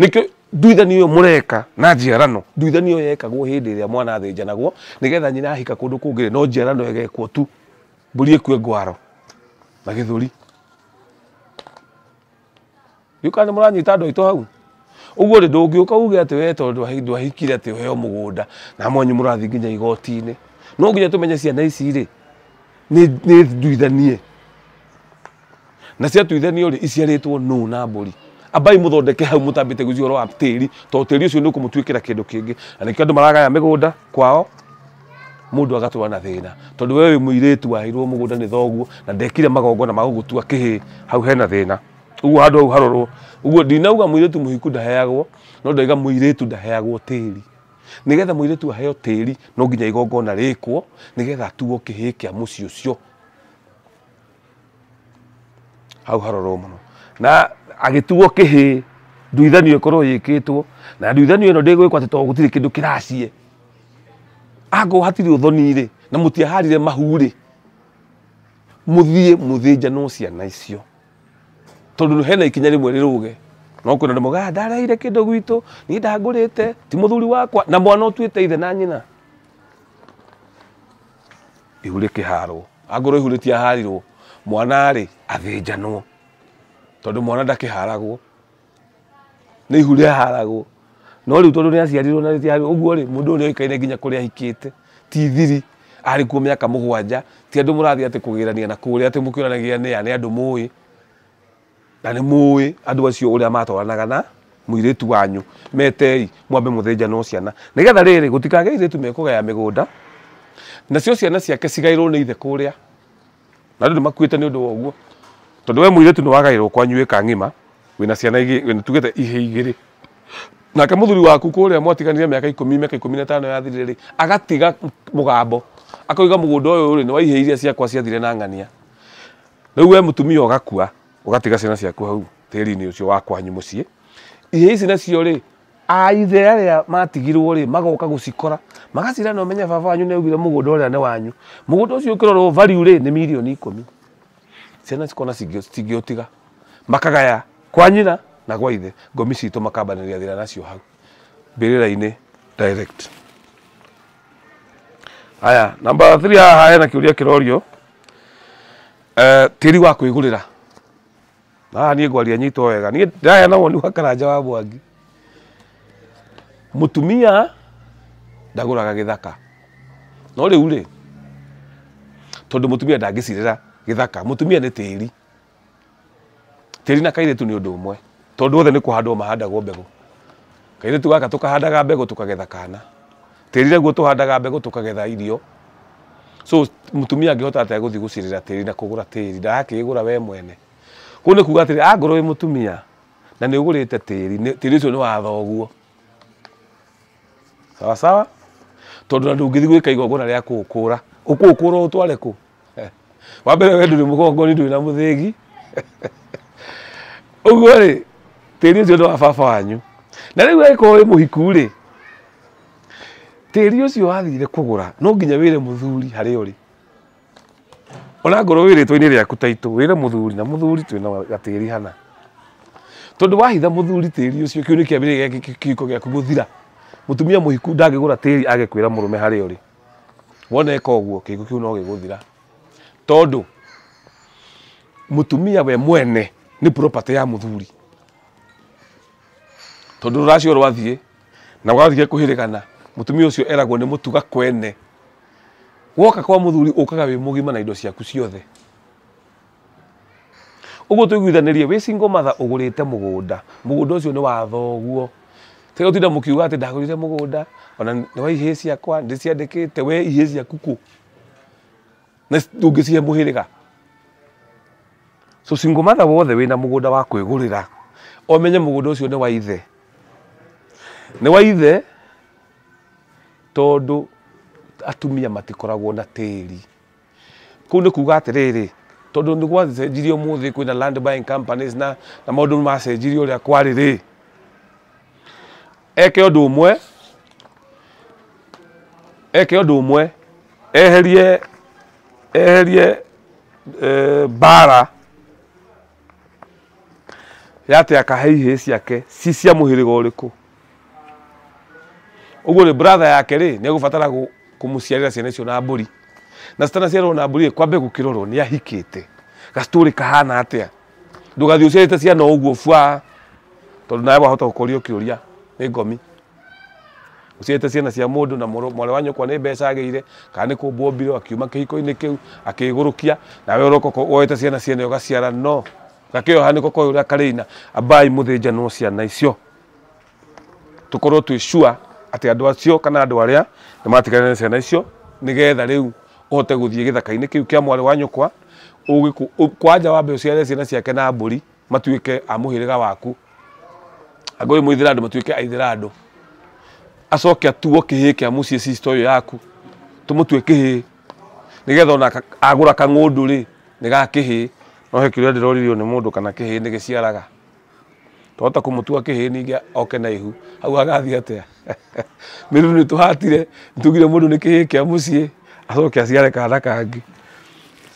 Speaker 1: Nĩkĩo nduithania ĩyo mũreka na njiarano, nduithania ĩyo yekagwo hĩndĩ ĩrĩa mwana athĩnjanagwo, nĩgetha nyina ahika kũndũ kũngĩ no njiarano ĩgekwo tu, mbũri ĩkue ngwaro na gĩthũri. Ndiũĩ kana nĩ mũranyita andũ aitũ hau? Ũguo rĩ, ndũngĩũka uge atĩ we tondũ ndwahikire atĩ ũheo mũgũnda na mwanyu mũrathiĩ nginya igoti-inĩ. No nginya tũmenye ciana ici rĩ, nĩ nduithanie. na ciatuithanio rĩ iciarĩtwo nũ na mbũri ambai muthondeke hau mutambite gwĩciria ũhoro wa tĩri tondũ tĩri ũcio nĩ ũkũmũtuĩkĩra kĩndũ kĩngĩ na nĩkĩo andũ maragaya mĩgũnda kwao mũndũ agatũra na thĩna tondũ wewe wĩ mũirĩtu waheirwo mũgũnda nĩ thoguo na ndekire magongona ma gũgũtua kĩhĩ hau hena thĩna ũguo handũ hau harorwo ũguo ndinauga mũirĩtu mũhiku ndaheagwo no ndaiga mũirĩtu ndaheagwo tĩri nĩgetha mũirĩtu aheo tĩri no nginya igongona rĩkwo nĩgetha atuo kĩhĩ kĩa mũciĩ ũcio hau harorwo mũno na agĩtuo kĩhĩ nduithanio ĩkorwo yĩkĩtwo na nduithanio ĩno ndĩgwĩkwo atĩ tondũ gũtirĩ kĩndũ kĩraciĩ angorwo hatirĩ ũthoni-rĩ na mũtiaharire mahu-rĩ mũthiĩ mũthĩnjanwo ciana icio tondũ hena ikinya rĩmwe rĩrũge no kwĩna andũ mogaga ndareheire kĩndũ gwitũ niĩ ndangũrĩte ti mũthuri wakwa na mwana ũtuĩte ithe na nyina Ihu rĩkĩharwo. Angorwo ihu rĩtiaharirwo, mwana-rĩ, athĩnjanwo. Tondũ mwana ndakĩharagwo. Nĩ ihu rĩaharagwo. No rĩu tondũ nĩaciarirwo na rĩtiaharirwo, ũguo-rĩ, mũndũ ũyũ nĩoĩkaine nginya kũrĩa ahikĩte. Ti thiri, arĩ kuo mĩaka mũgwanja. Ti andũ mũrathiĩ atĩ kũgĩrania na kũrĩa atĩ mũkĩonanagia nĩa, nĩ andũ mũĩ. Na nĩ mũũĩ andũ acio ũrĩa maatwaranaga na mũirĩtu wanyu. Metei, mwambe mũthĩnjanwo ciana, nĩ getha rĩrĩ, gũtikagĩe airĩtu mekũgaya mĩgũnda, nacio ciana ciake cigaĩrwo nĩ ithe kũrĩa. Na andũ nĩmakuĩte nĩ ũndũ wa ũguo, tondũ wee mũirĩtu nĩwagaĩrwo kwanyu ĩka ng'ima, wĩna ciana igĩ, wĩna tuge ta ihĩĩ igĩrĩ. Nake mũthuri waku kũrĩa mwatiganire mĩaka ikũmi, mĩaka ikũmi na ĩtano yathirire-rĩ, agatiga mũgambo, akoiga mũgũnda ũyũ-rĩ, nĩ wa ihĩĩ iria ciakwa ciathire na ng'ania. Rĩu we mũtumia ũgakua ũgatiga ciana ciaku hau tĩri-inĩ ũcio wa kwanyu mũciĩ ihĩĩ ici nacio rĩ aithe arĩa matigirwo rĩ magoka gũcikora magacira na ũmenye baba wanyu nĩ augire mũgũnda ũrĩa nĩ wanyu mũgũnda ũcio ũkĩrorwo value rĩ nĩ mirioni ikũmi ciana cikona cingĩũtiga makagaya kwa nyina na kwa ithe ngomi citũ makambanĩria thĩna nacio hau mbĩrĩra-inĩ direct Haya, namba 3 haha hena kĩũria kĩrorio eh, tĩri wa kwĩgũrĩra Na haha niĩ ngwaria nyitwo wega niĩ ndĩraheana woni wa karanja wa mwangi mũtumia ndagũraga gĩthaka no rĩu rĩ tondũ mũtumia ndangĩcirĩra gĩthaka mũtumia nĩ tĩri Tĩri na kairĩtu nĩ ũndũ ũmwe, tondũ othe nĩ kũhandwo mahandagwo mbegũ. Kairĩtu gaka tũkahandaga mbegũ tũkagetha kana. Tĩri naguo tũhandaga mbegũ tũkagetha irio. So mũtumia angĩhota atĩa gũthiĩ gũcirĩra tĩri na kũgũra tĩri, ndarakĩĩgũra we mwene. Kũu nĩ kuuga atĩrĩ, angorwo wĩ mũtumia na nĩ ũgũrĩte tĩri, tĩri ũcio nĩ wa thoguo. Sawa sawa? Tondũ ona ndũngĩthiĩ gwĩka igongona rĩa kũũkũũra, ũkũũkũũra ũũtware kũ? wa mbere we ndũrĩ mũgongoni ndũrĩ na mũthĩgi ũguo rĩ tĩri ũcio nĩ wa baba wanyu na rĩu angĩkorwo wĩ mũhiku rĩ tĩri ũcio wathire kũgũra no nginya wĩre mũthuri harĩa ũrĩ ona ngorwo wĩ rĩtwa-inĩ rĩaku taitũ wĩre mũthuri na mũthuri twĩna gatĩri hana tondũ wahitha mũthuri tĩri ũcio kĩu nĩ kĩambĩrĩria gĩa kĩhiko gĩaku gũthira mũtumia mũhiku ndangĩgũra tĩri age kwĩra mũrũme harĩa ũrĩ Wona eka ũguo kĩhiko kĩu no gĩgũthira. Tondũ mũtumia we mwene nĩ property ya mũthuri. Tondũ rũracio rwathiĩ na wathiĩ kũhĩrĩgana, mũtumia ũcio eragwo nĩ mũtuga kwene. Woka kwa mũthuri ũkaga wĩ mũgima na indo ciaku ciothe. Ũguo tũiguithanĩrie, wĩ single mother ũgũrĩte mũgũnda, mũgũnda ũcio nĩ wa thoguo, tiga gũtinda mũkiuga atĩ ndagũrire mũgũnda, ona nĩ wa ihĩĩ ciakwa, nĩ ndĩciandĩkĩte, we ihĩĩ ciaku kũ? Na ndũngĩcihe mũhĩrĩga. So single mother wothe wĩna mũgũnda wa kwĩgũrĩra, ũmenye mũgũnda ũcio nĩ wa ithe. Nĩ wa ithe tondũ atumia matikoragwo na tĩri. Kũu nĩ kuuga atĩrĩrĩ, tondũ nĩ gwacenjirie ũmũthĩ kwĩna land buying companies na na maũndũ macenjirie ũrĩa kwarĩ rĩ, eke ũndũ ũmwe eke ũndũ ũmwe eherie eherie eh, mbara yate akahe ihĩĩ ciake ci cia mũhĩrĩga ũrĩkũ ũguo rĩ brother yake rĩ nĩ egũbatara gũ- kũmũciarĩra ciana icio na mbũri na citanaciarwo na mbũri rĩ kwambe gũkĩrorwo nĩ ahikĩte gacitũrĩ kahana atĩa ndũgathiĩ ũciarĩte ciana o ũguo bwa tondũ nawe wahota gũkoria ũkĩũria nĩ ngomi ũciarĩte ciana cia mũndũ na mũrũ- mwarĩ wa nyũkwa nĩ mbeca agĩire kana nĩ kũmbwo ombirwo akiuma kĩhiko-inĩ kĩu akĩgũrũkia nawe ũroka ũko- woete ciana ciene ũgaciara no gakĩoha nĩko koĩ ũrĩa karĩina ambai mũthĩnjanwo ciana icio tũkorwo twĩ sure atĩ andũ acio kana andũ arĩa nĩ matiganire na ciana icio nĩgetha rĩu ũhote gũthiĩ gĩthaka-inĩ kĩu kĩa mwarĩ wa nyũkwa ũgĩkũ- ũ- kwanja wambe ũciare ciana ciake na mbũri matuĩke a mũhĩrĩga waku angĩkorwo mũithira andũ matuĩke aithira andũ acoke atuo kĩhĩĩ kĩa mũciĩ sisto ũyũ yaku tũmũtue kĩhĩĩ nĩgetha ona aka- agũra kang'ũndũ rĩ nĩ ga kĩhĩĩ no he kĩrĩa ndĩroririo nĩ mũndũ kana kĩhĩĩ nĩ gĩciaraga twahota kũmũtua kĩhĩĩ ningĩ oke na ihu hau agathiĩ atĩa mĩruru nĩ tũhatire nĩ tugire mũndũ nĩ kĩhĩĩ kĩa mũciĩ acoke aciare kana kangĩ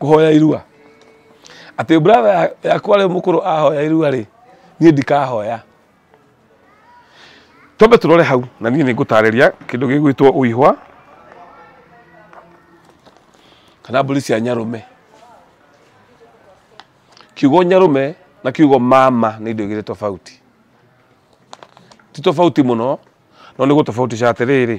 Speaker 1: kũhoya irua atĩ brother yakwa rĩu mũkũrũ ahoya irua rĩ niĩ ndikahoya twambe tũrore hau na niĩ nĩ ngũtarĩria kĩndũ gĩgwĩtwo ũihwa kana mbũri cia nyarũme kiugo nyarũme na kiugo mama nĩ indo igĩrĩ tofauti ti tofauti mũno no nĩ gũtofautisha atĩrĩrĩ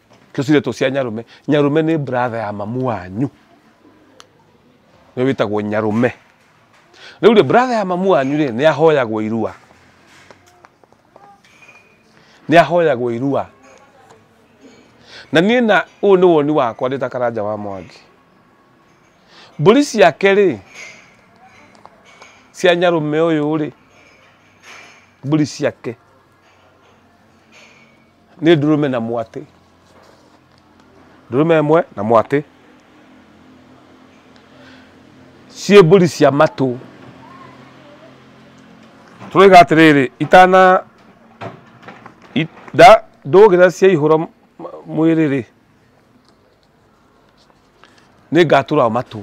Speaker 1: tũcirĩ tũ cia nyarũme nyarũme nĩ brother ya mamu wanyu nĩ wĩtagwo nyarũme rĩu rĩ brother ya mamu wanyu rĩ nĩ ahoyagwo irua nĩ ahoyagwo irua na niĩ na ũyũ nĩ woni wakwa ndĩ ta karanja wa mwangi mbũri ciake rĩ cia nyarũme ũyũ rĩ mbũri ciake nĩ ndũrũme na mwatĩ ndũrũme ĩmwe na mwatĩ ciĩ mbũri cia matũ tũroiga atĩrĩrĩ itana i- nda- ndũgĩra cia ihũra m- mwĩrĩ rĩ nĩ ngatũra matũ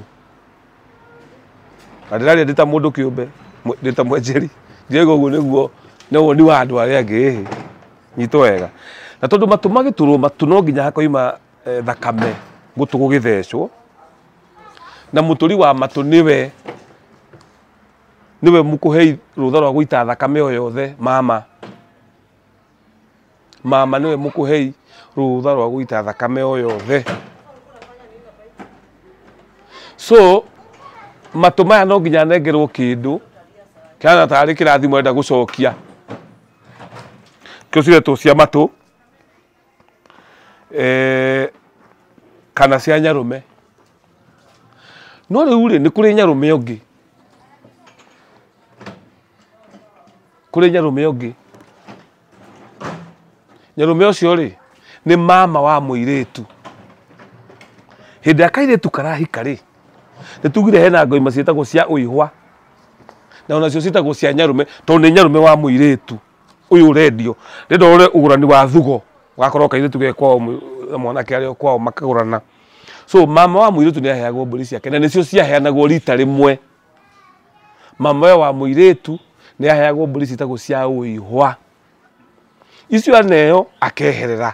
Speaker 1: na ndĩraria ndĩ ta mũndũ kĩũmbe mwe- ndĩ ta mwenjeri ndiaiga ũguo nĩguo nĩ woni wa andũ arĩa angĩ nyitwo wega na tondũ matũ magĩtũrwo matũ no nginya hakoima eh, thakame gũtũ gũgĩthecwo na mũtũri wa matũ nĩwe nĩwe mũkũhei rũtha rwa gũita thakame o yothe mama Mama nĩwe mũkũhei rũtha rwa gũita thakame o yothe. So matũ maya no nginya nengerwo kĩndũ kĩhana tarĩ kĩrathimo enda gũcokia. Tũcire tũ cia matũ eh, kana cia nyarũme no rĩu rĩ nĩ kũrĩ nyarũme ũngĩ kũrĩ nyarũme ũngĩ nyarũme ũcio rĩ nĩ mama wa mũirĩtu hĩndĩ ya kairĩtu karahika rĩ nĩ tugire hena ngoima ciĩtagwo cia ũihwa na onacio ciĩtagwo cia nyarũme tondũ nĩ nyarũme wa mũirĩtu ũyũ ũrendio ndĩrenda ũrore ũgũrani wa thugo gakorwo kairĩtu ge kwao mũ- na mwanake arĩ o kwao makagũrana so mama wa mũirĩtu nĩ aheagwo mbũri ciake na nĩcio ciaheanagwo rita rĩmwe mama ũyũ wa mũirĩtu nĩ aheagwo mbũri ciĩtagwo cia ũihwa icio aneo akeherera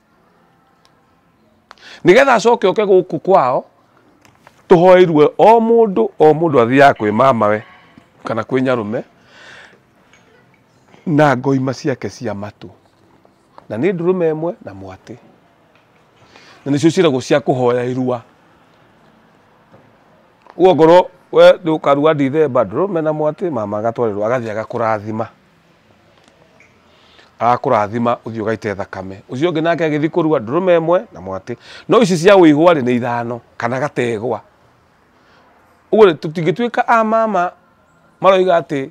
Speaker 1: nĩgetha acoke oke gũkũ kwao tũhoeirue o mũndũ o mũndũ athiaga kwĩ mamawe kana kwĩ nyarũme na ngoima ciake cia matũ na nĩ ndũrũme ĩmwe na mwatĩ na nĩcio ciĩragwo cia kũhoya irua guo ngorwo we ndũkarua ndithemba ndũrũme na mwatĩ mama agatwarĩrwo agathiĩ agakũrathima agakũrathima ũthiĩ ũgaite thakame ũcio ũngĩ nake agĩthiĩ kũrua ndũrũme ĩmwe na mwatĩ no ici cia wĩihũa rĩ nĩ ithano kana gategwa ũguo rĩ tũtingĩtuĩka a mama maroiga atĩ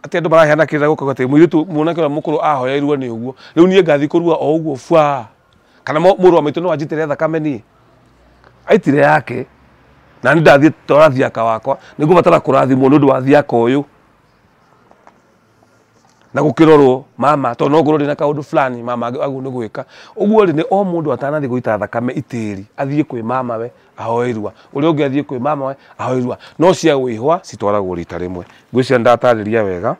Speaker 1: atĩ andũ maraheana kĩrĩra gũkauga atĩ mũirĩtu mwanake ũrĩa mũkũrũ ahoeirwo nĩ ũguo rĩu niĩ ngathiĩ kũrua o ũguo bwa kana mo- mũrũ wa maitũ no anjitĩre thakame niĩ aitire yake na nĩ ndathiĩ twara thiaka wakwa nĩ ngũbatara kũrathimwo nĩ ũndũ wa thiaka ũyũ na gũkĩrorwo mama tondũ no ngorwo ndĩna kaũndũ fulani mama agĩ- agĩrĩirwo nĩ gwĩka ũguo rĩ nĩ o mũndũ atanathiĩ gũita thakame itĩri athiĩ kwĩ mama we ahoe irua ũrĩa ũngĩ athiĩ kwĩ mama we ahoe irua no cia wĩhwa citwaragwo rita rĩmwe ngwĩciria nĩ ndatarĩria wega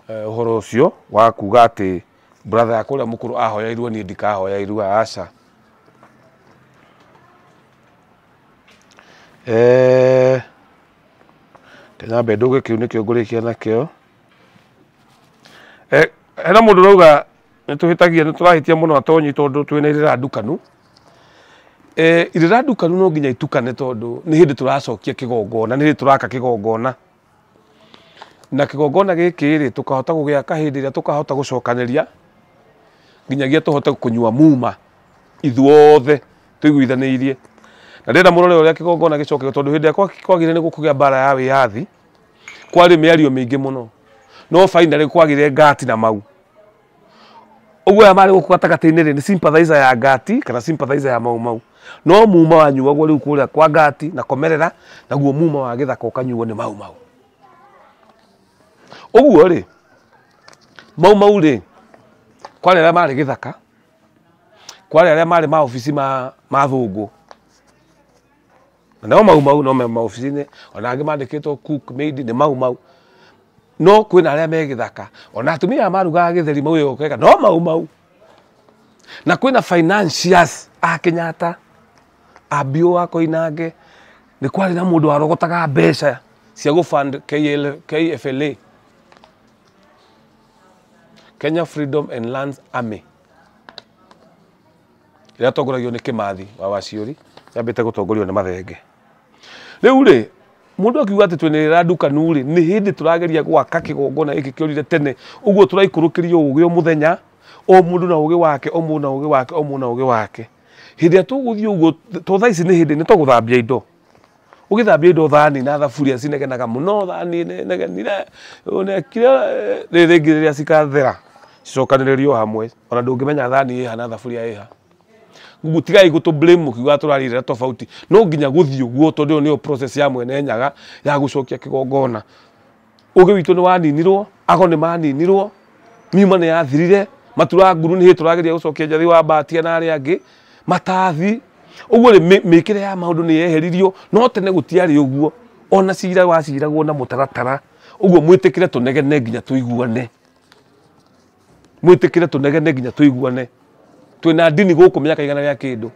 Speaker 1: eh, ũhoro ũcio wa kuga atĩ brother yakwa ũrĩa mũkũrũ ahoya irua niĩ ndikahoya irua aca eh, Tũnyambe ndũgĩ kĩu nĩkĩo ngũrĩkia nakĩo. Eh, hena mũndũ rauga nĩ tũhĩtagia nĩ tũrahĩtia mũno atonyi tondũ twĩna irĩra ndukanu. Eh, irĩra ndukanu no nginya itukane tondũ nĩ hĩndĩ tũracokia kĩgongona, nĩ hĩndĩ tũraka kĩgongona. Na kĩgongona gĩkĩ rĩ, tũkahota gũgĩaka hĩndĩ ĩrĩa tũkahota gũcokanĩria nginyagia tũhote kũnyua muma ithuothe tũiguithanĩirie na ndĩrenda mũrore ũrĩa kĩgongona gĩcokagio tondũ hĩndĩ ĩrĩa kwagĩrĩire nĩ gũkũgĩa mbara ya wĩyathi kwarĩ mĩario mĩingĩ mũno no finally kwagĩrĩire ngati na mau ũguo aya marĩ gũkũ gatagatĩ-inĩ rĩ nĩ sympathizer ya ngati kana sympathizer ya mau mau no muma wanyuagwo rĩu kũrĩa kwa ngati na komerera naguo muma wa gĩthaka ũkanyuo nĩ mau mau ũguo rĩ mau mau rĩ kwarĩ arĩa marĩ gĩthaka kwarĩ arĩa marĩ maobici ma ma thũngũ nao mau mau no me maobici-inĩ ona angĩ mandĩkĩtwo cook maid nĩ mau mau no kwĩna arĩa me gĩthaka ona atumia aya marugaga gĩtheri mau ĩyo ũgeka no mau mau na kwĩna financiers a Kenyatta a Bio a Koinange nĩ kwarĩ na mũndũ warogotaga mbeca cia gũ fund KL KFLA kenya freedom and lands army ĩrĩa atongoragio nĩ kĩmathi wa waciũri yambĩte gũtongorio nĩ mathenge rĩu rĩ mũndũ akiuga atĩ twĩnĩrĩra ndukanu rĩ nĩ hĩndĩ tũrageria gwaka kĩgongona gĩkĩ kĩorire tene ũguo tũraikũrũkĩrio ũgĩ o mũthenya o mũndũ na ũgĩ wake o mũndũ na ũgĩ wake o mũndũ na ũgĩ wake hĩndĩ ĩrĩa tũgũthiĩ ũguo to thaa ici nĩ hĩndĩ nĩ tũgũthambia indo ũgĩthambia indo thani na thaburia cinegenaga mũno thani nĩ negenire ũnekire eh, rĩrĩ rĩngĩ rĩrĩa cikathera cicokanĩrĩrio hamwe ona ndũngĩmenya thani ĩha na thaburia ĩha Google tigai gũtũ blame mũkiuga tũrarĩrĩra tofauti no nginya gũthiĩ ũguo tondũ ĩyo nĩyo process ya mwene nyaga ya gũcokia kĩgongona Ũgĩ witũ nĩ waninirwo, ago nĩ maninirwo, miuma nĩ yathirire, matura nguru nĩ hĩndĩ tũrageria gũcokia njathĩ wa mbatia na arĩa angĩ, matathi. Ũguo rĩ, mĩ- mĩkĩre ya maũndũ nĩ yeheririo, no tene gũtiarĩ ũguo. Ona cira waciragwo na mũtaratara. Ũguo mwĩtĩkĩre tũnegene nginya tũiguane. Mwĩtĩkĩre tũnegene nginya tũiguane. Twĩna ndini gũkũ mĩaka igana rĩa kĩndũ.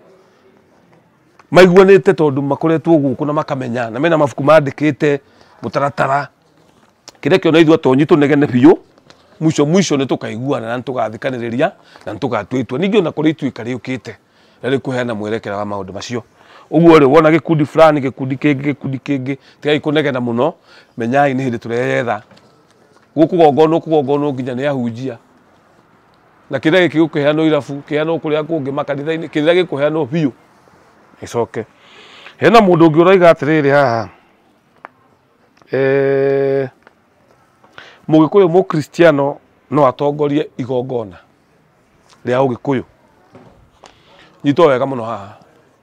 Speaker 1: maiguanĩte tondũ makoretwo gũkũ na makamenya na mena mabuku mandĩkĩte mũtaratara kĩrĩa kĩona ithuĩ atonyi tũnegene biũ mwico mwico nĩ tũkaiguana na nĩ tũgathikanĩrĩria na nĩ tũgatua itua ningĩ ona kũrĩ ituĩka rĩũkĩte na rĩkũheana mwerekera wa maũndũ macio ũguo rĩ wona gĩkundi fulani gĩkundi kĩngĩ gĩkundi kĩngĩ tigai kũnegena mũno menyai nĩ hĩndĩ tũreyetha gũkũgongonwo kũgongonwo nginya nĩ ahunjia na kĩrĩa gĩkĩ gũkĩheanwo irabu kĩheanwo kũrĩa kũngĩ makanitha-inĩ kĩrĩa gĩkũheanwo biũ gĩcoke hena mũndũ ũngĩ ũraiga atĩrĩrĩ haha eh, mũgĩkũyũ mũkristiano no atongorie igongona rĩa ũgĩkũyũ nyitwo wega mũno haha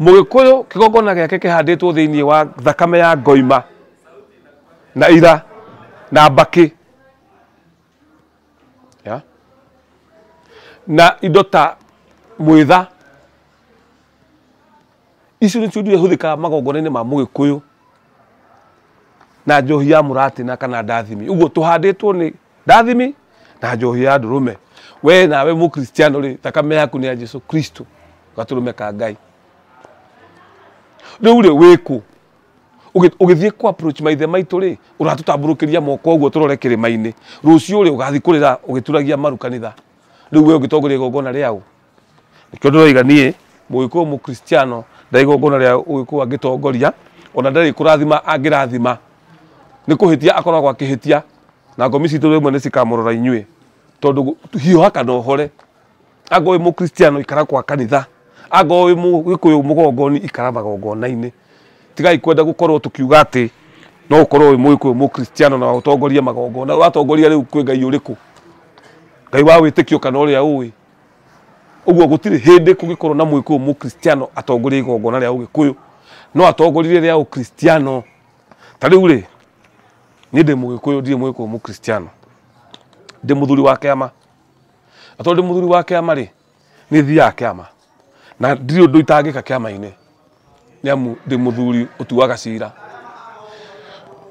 Speaker 1: Mũgĩkũyũ kĩgongona gĩake kĩhandĩtwo thĩinĩ wa thakame ya ngoima na ira na mbakĩ yeah. na indo ta mwĩtha icio nĩcio indo iria ihũthĩkaga magongona-inĩ ma mũgĩkũyũ na njohi ya mũratina kana ndathimi ũguo tũhandĩtwo nĩ ndathimi na njohi ya ndũrũme we nawe mũkristiano rĩ thakame yaku nĩ ya jesu kristo gatũrũme ka ngai rĩu rĩ wĩkũ Ũgĩ- ũgĩthiĩ kũ approach maithe maitũ rĩ ũratũtambũrũkĩria moko ũguo tũrore kĩrĩma-inĩ rũciũ rĩ ũgathiĩ kũrĩra ũgĩturagia maru kanitha rĩu we ũngĩtongoria igongona rĩaũ Nĩkĩo ndĩroiga niĩ mũgĩkũyũ mũkristiano ndarĩ igongona rĩa ũgĩkũyũ angĩtongoria ona ndarĩ kũrathima angĩrathima nĩ kũhĩtia akoragwo akĩhĩtia na ngomi citũ rĩmwe nĩ cikamũrora inyuĩ tondũ hiũha kana ũhore anga wĩ mũkristiano ikara kwa kanitha anga wĩ mũgĩkũyũ mũgongoni ikara magongona-inĩ tigai kwenda gũkorwo tũkiuga atĩ no ũkorwo wĩ mũgĩkũyũ mũkristiano na ũtongorie magongona ũratongoria rĩu kwĩ Ngai ũrĩkũ? Ngai wa wĩtĩkio kana ũrĩa ũĩ? Ũguo gũtirĩ hĩndĩ kũngĩkorwo na mũgĩkũyũ mũkristiano atongoria igongona rĩa ũgĩkũyũ no atongorie rĩa ũkristiano ta rĩu rĩ niĩ ndĩ mũgĩkũyũ ndirĩ mũgĩkũyũ mũkristiano ndĩ mũthuri wa kĩama na tondũ ndĩ mũthuri wa kĩama rĩ nĩ thiaga kĩama na ndirĩ ũndũ itangĩka kĩama-inĩ nĩ amu ndĩ mũthuri ũtuaga cira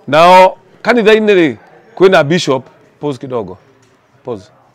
Speaker 1: nao kanitha-inĩ rĩ kwĩna bishop pause kidogo pause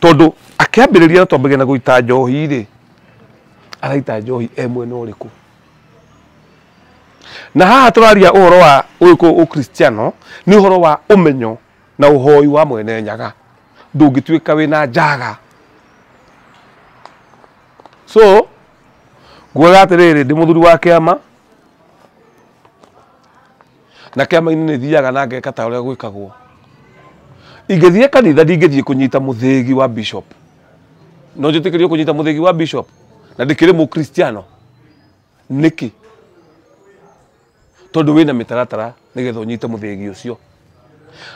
Speaker 1: tondũ akĩambĩrĩria na twambĩrĩria na gũita njohi rĩ araita njohi e mwena ũrĩkũ na haha tũraria ũhoro wa ũyũ ũkristiano nĩ ũhoro wa ũmenyo na ũhoi wa mwene nyaga ndũngĩtuĩka wĩna njaga so nguaga atĩrĩrĩ ndĩ mũthuri wa kĩama na kĩama-inĩ nĩ thiaga na ngeka ta ũrĩa gwĩkagwo ingĩthiĩ kanitha ndingĩthiĩ kũnyita mũthĩgi wa bishop no njĩtĩkĩrio kũnyita mũthĩgi wa bishop na ndĩkĩrĩ mũkristiano nĩkĩ tondũ wĩna mĩtaratara nĩgetha ũnyite mũthĩgi ũcio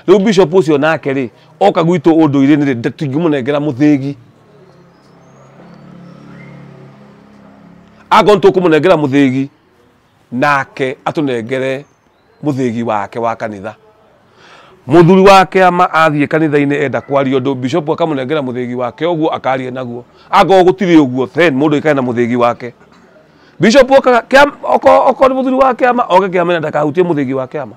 Speaker 1: rĩu bishop ũcio nake rĩ oka gwitũ ũndũ-irĩ nĩ rĩ tingĩmũnengera mũthĩgi akorwo nĩ tũkũmũnengera mũthĩgi nake atũnengere mũthĩgi wake wa kanitha muthuri wa kiama athiä kanitha-inä enda kwaria ndå bishop akamũnengera mũthĩgi wake å guo akaria naguo akorwo gå tirä å guo then må ndå aikare na mũthĩgi wake bishop okaga kĩama- oko- okorwo nĩ mũthuri wa kiama oke kiama-inä ndakahutie mũthĩgi wa kiama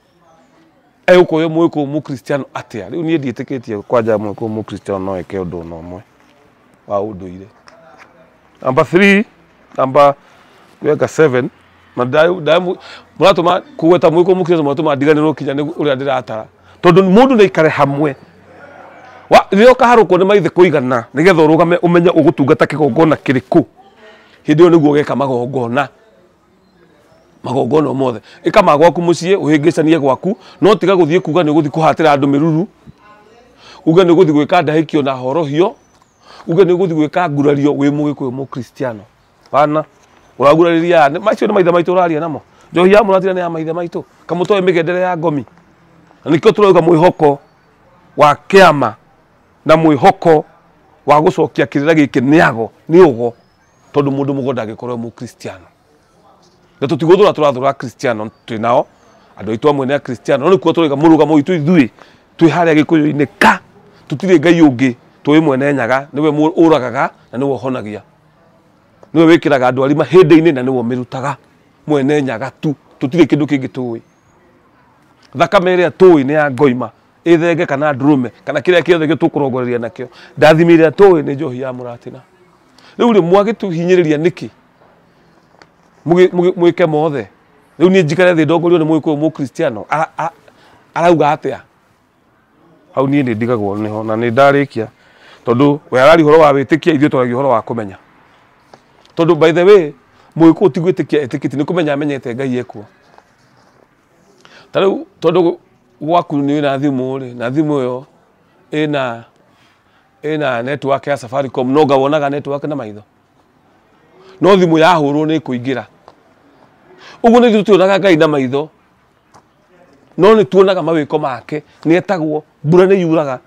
Speaker 1: egũkũhe mũĩ kũu mũkristiano atĩa rĩu niĩ ndiĩtĩkĩtie kwanja mũĩ kũu mũkristiano no eke ũndũ ona ũmwe wa ũndũire namba 3 namba weka 7 na ndai- ndai- mũratũma kũgweta mũĩ kũu mũkristiano mũratũma ndiganĩrwo kinya nĩ ũrĩa ndĩratara tondũ mũndũ nĩ aikare hamwe Wa- rĩrĩa ũkaharũkwo nĩ maithe kũigana nĩgetha ũrũgame ũmenye ũgũtungata kĩgongona kĩrĩkũ hĩndĩ ĩyo nĩguo ũgeka magongona magongona o mothe ĩka ma gwaku mũciĩ ũhĩngĩcanie gwaku no tiga gũthiĩ kuga nĩ ũgũthiĩ kũhatĩra andũ mĩruru uge nĩ ũgũthiĩ gwĩka ndahĩkio na horohio uge nĩ ũgũthiĩ gwĩka ngurario wĩ mũgĩkũyũ mũkristiano wana ũragurarĩria nĩ- macio nĩ maithe maitũ ũraria namo njohi ya mũratira nĩ ya maithe maitũ kamũtoe mĩgendere ya ngomi na nĩkĩo tũrauga mwĩhoko wa kĩama na mwĩhoko wa gũcokia kĩrĩra gĩkĩ nĩago nĩ ũgo tondũ mũndũ mũgo ndangĩkorwo e mũkristiano na tũtigũthũra tũrathũra akristiano twĩ nao andũ aitũ amwe nĩ akristiano no nĩkuo tũrĩga mũrũgamo witũ ithuĩ twĩ harĩa gĩkũyũ-inĩ ka tũtirĩ ngai ũngĩ tũĩ mwene nyaga nĩwe mũ- ũragaga na nĩwe ũhonagia nĩwe wĩkĩraga andũ arima hĩndĩ-inĩ na nĩwe ũmĩrutaga mwene nyaga tu tũtirĩ kĩndũ kĩngĩ tũĩ thakame ĩrĩa tũĩ nĩ ya ngoima ithenge kana ndũrũme kana kĩrĩa kĩothe gĩtũkũrongoreria nakĩo ndathimi ĩrĩa tũĩ nĩ njohi ya mũratina rĩu rĩ mwagĩtũhinyĩrĩria nĩkĩ Mũgĩ- mũgĩ- mwĩke mothe rĩu niĩ njikare thĩ ndongorio nĩ mũgĩkũyũ mũkristiano Ara- a- arauga atĩa hau niĩ nĩ ndigagwo nĩho na nĩ ndarĩkia tondũ we arari ũhoro wa wĩtĩkia ithuĩ twaragia ũhoro wa kũmenya tondũ by the way mũgĩkũyũ ti gwĩtĩkia etĩkĩti nĩ kũmenya amenyete ngai ekuo Ta rĩu tondũ gwaku nĩ na thimũ rĩ, na thimũ ĩyo ĩna ĩna network ya Safaricom, no nga wonaga network na maitho? No thimũ yahũrwo nĩ ĩkũingĩra. Ũguo nĩ ithuĩ tuonaga Ngai na maitho, no nĩ tuonaga mawĩko make. Nĩ etagwo, mbura nĩ yuraga,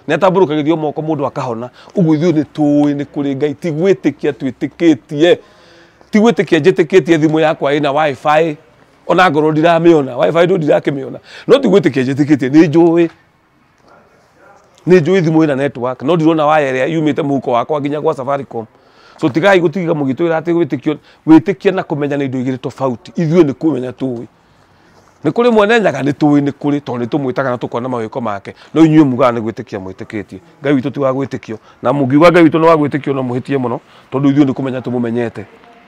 Speaker 1: nĩ atambũrũkagĩrio moko mũndũ akahona. Ũguo ithuĩ nĩ tũũĩ nĩ kũrĩ Ngai, ti gwĩtĩkia twĩtĩkĩtie. Ti gwĩtĩkia njĩtĩkĩtie thimũ yakwa ĩna WiFi. ona akorwo ndiramĩona wifi tu ndirakĩmĩona no ti gwĩtĩkia njĩtĩkĩtie nĩ njũĩ nĩ njũĩ thimũ ĩna network no ndirona waya ĩrĩa yumĩte mũhuko wakwa nginya gwa safaricom so tigai gũtiga mũgĩtwĩra atĩ wĩtĩkio wĩtĩkia na kũmenya nĩ indo igĩrĩ tofauti ithuĩ nĩ kũmenya tũĩ nĩ kũrĩ mwene nyaga nĩ tũĩ nĩ kũrĩ tondũ nĩ tũmwĩtaga na tũkona mawĩko make no inyuĩ mugaga nĩ gwĩtĩkia mwĩtĩkĩtie ngai witũ ti wa gwĩtĩkio na mũngiuga ngai witũ nĩ wa gwĩtĩkio no mũhĩtie mũno tondũ ithuĩ nĩ kũmenya tũmũmenyete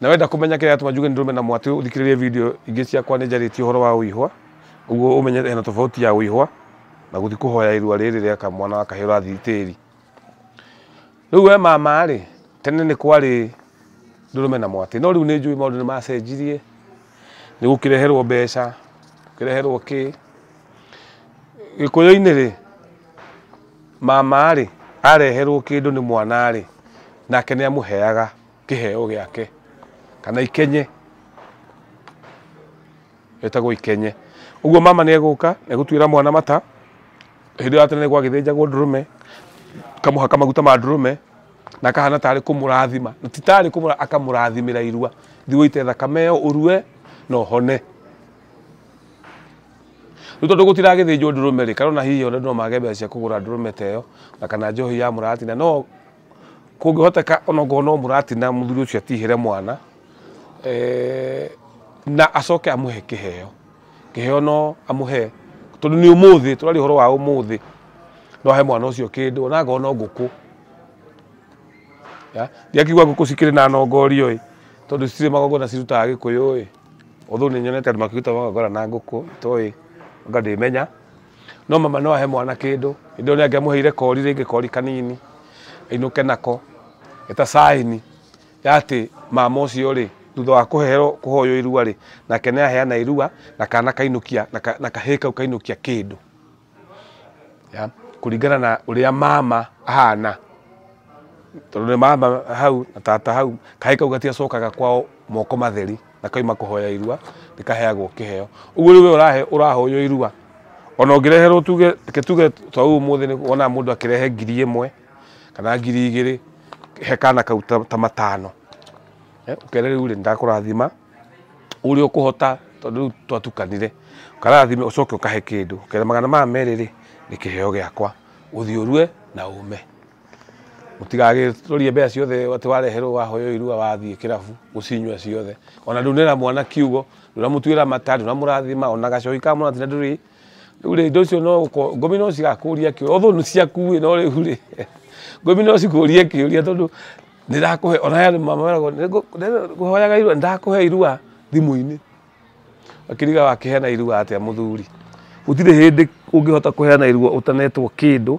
Speaker 1: Na wenda kũmenya kĩrĩa atũma njuge nĩ ndũrũme na mwatĩ ũthikĩrĩrie video ingĩ ciakwa nĩ njarĩtie ũhoro wa ũihwa ũguo ũmenye hena tofauti ya ũihwa na gũthi kũhoya irua rĩrĩ rĩa kamwana wa kahĩĩ ũrathi tĩri rĩu we mama rĩ tene nĩ kwarĩ ndũrũme na mwatĩ no rĩu nĩ njũĩ maũndũ nĩ macenjirie nĩ gũkĩreherwo mbeca gũkĩreherwo kĩ gĩkũyũ-inĩ rĩ mama rĩ areherwo kĩndũ nĩ mwana rĩ nake nĩ amũheaga kĩheo gĩake kana ikenye etagwo ikenye ũguo mama nĩ egũka egũtuĩra mwana mata hĩndĩ ĩyo atene nĩ gwagĩthĩnjagwo ndũrũme kamũhaka maguta ma ndũrũme na kahana tarĩ kũmũrathima na ti tarĩ kũmũra akamũrathimĩra irua thiĩ ũite thakame ĩyo ũrue na ũhone rĩu tondũ gũtiragĩthĩnjwo ndũrũme rĩ kana ona hihi ona no mage mbeca cia kũgũra ndũrũme ta ĩyo na kana njohi ya mũratina no kũngĩhoteka onokorwo no mũratina mũthuri ũcio atihere mwana eh, na acoke amũhe kĩheo kĩheo no amũhe tondũ nĩ ũmũthĩ tũraria ũhoro wa ũmũthĩ no ahe mwana ũcio kĩndũ ona ngorwo no ngũkũ Ya, ndiakigua ngũkũ cikĩrĩ na nongorio ĩ tondũ citirĩ magongona cirutaga gĩkũyũ ĩ ũthũ nĩ nyonete andũ makĩruta magongona na ngũkũ itoĩ nga ndĩmenya no mama no ahe mwana kĩndũ indo nĩ angĩamũheire kori rĩngĩ kori kanini ainũke nako eta saini ya atĩ mama ũcio rĩ thutha wa kũheo kũhoywo irua rĩ nake nĩ aheana irua na kana kainũkia na ka- na kahĩĩ kau kainũkia kĩndũ ya kũringana na ũrĩa mama ahana tondå nä mama hau na tata hau kahä kau gatiacokaga kwao moko matheri na kaima kũhoya irua nĩ kaheagwo kĩheo ũguo rĩu we ũrahe ũrahoywo irua ona ũngĩreherwo tuge reke tuge ta ũyũ ũmũthĩ nĩ wonaga mũndũ akĩrehe ngiri ĩmwe kana ngiri igĩrĩ he kana kau ta ta matano Eh, ũkere rĩu rĩ ndakũrathima ũrĩa ũkũhota tondũ rĩu twatukanire ũkarathime ũcoke ũkahe kĩndũ ũkere magana maya merĩ rĩ nĩ kĩheo gĩakwa ũthiĩ ũrue na ũme Mũtigagĩtũrie mbeca ciothe atĩ wareherwo wahoywo irua wathiĩ kĩrabu ũcinyue ciothe. Ona ndũnera mwana kiugo, ndũnamũtuĩra mata, ndũnamũrathima, ona gacohi ka mwana tiga ndũrĩ. Rĩu rĩ, indo icio no gũko- ngomi no cigakũria kĩũria, although nĩ ciaku ĩ, no rĩu rĩ, ngomi no cikũrie kĩũria tondũ nĩ ndakũhe, ona aya mama meragwo nĩ ngũ- nĩ- ngũhoyaga irua, nĩ ndakũhe irua thimũ-inĩ. Ũkĩriga wakĩheana irua atĩa mũthuri? Gũtirĩ hĩndĩ ũngĩhota kũheana irua ũtanetwo kĩndũ.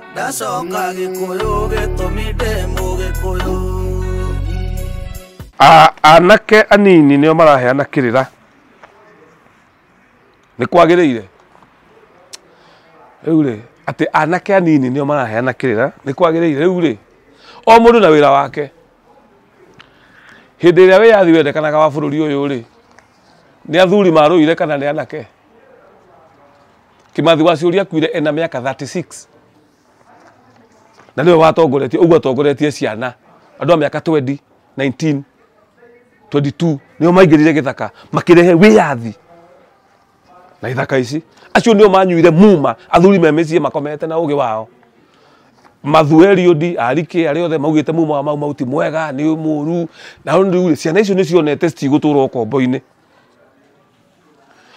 Speaker 2: ndacoka gĩkũyũ
Speaker 1: gĩtũmi ndĩ mũgĩkũyũ A- anake anini nĩo maraheana kĩrĩra nĩ kwagĩrĩire rĩu rĩ atĩ anake anini nĩo maraheana kĩrĩra nĩ kwagĩrĩire rĩu rĩ o mũndũ na wĩra wake hĩndĩ ĩrĩa wĩyathi wendekanaga wa bũrũri ũyũ rĩ nĩ athuri marũire kana nĩ anake kimathi wa ciũria kuire ena mĩaka 36 na nĩwe watongoretie ũguo atongoretie ciana andũ a mĩaka 20 19 22 nĩo maingĩrire gĩthaka makĩrehe wĩyathi na ithaka ici acio nĩo manyuire muma athuri me mĩciĩ makomete na ũgĩ wao mathueriodi arike arĩa othe maugĩte muma wa mau mau ti mwega nĩ mũru na rĩu rĩ, ciana icio nĩ cionete citigũtũra ũkombo-inĩ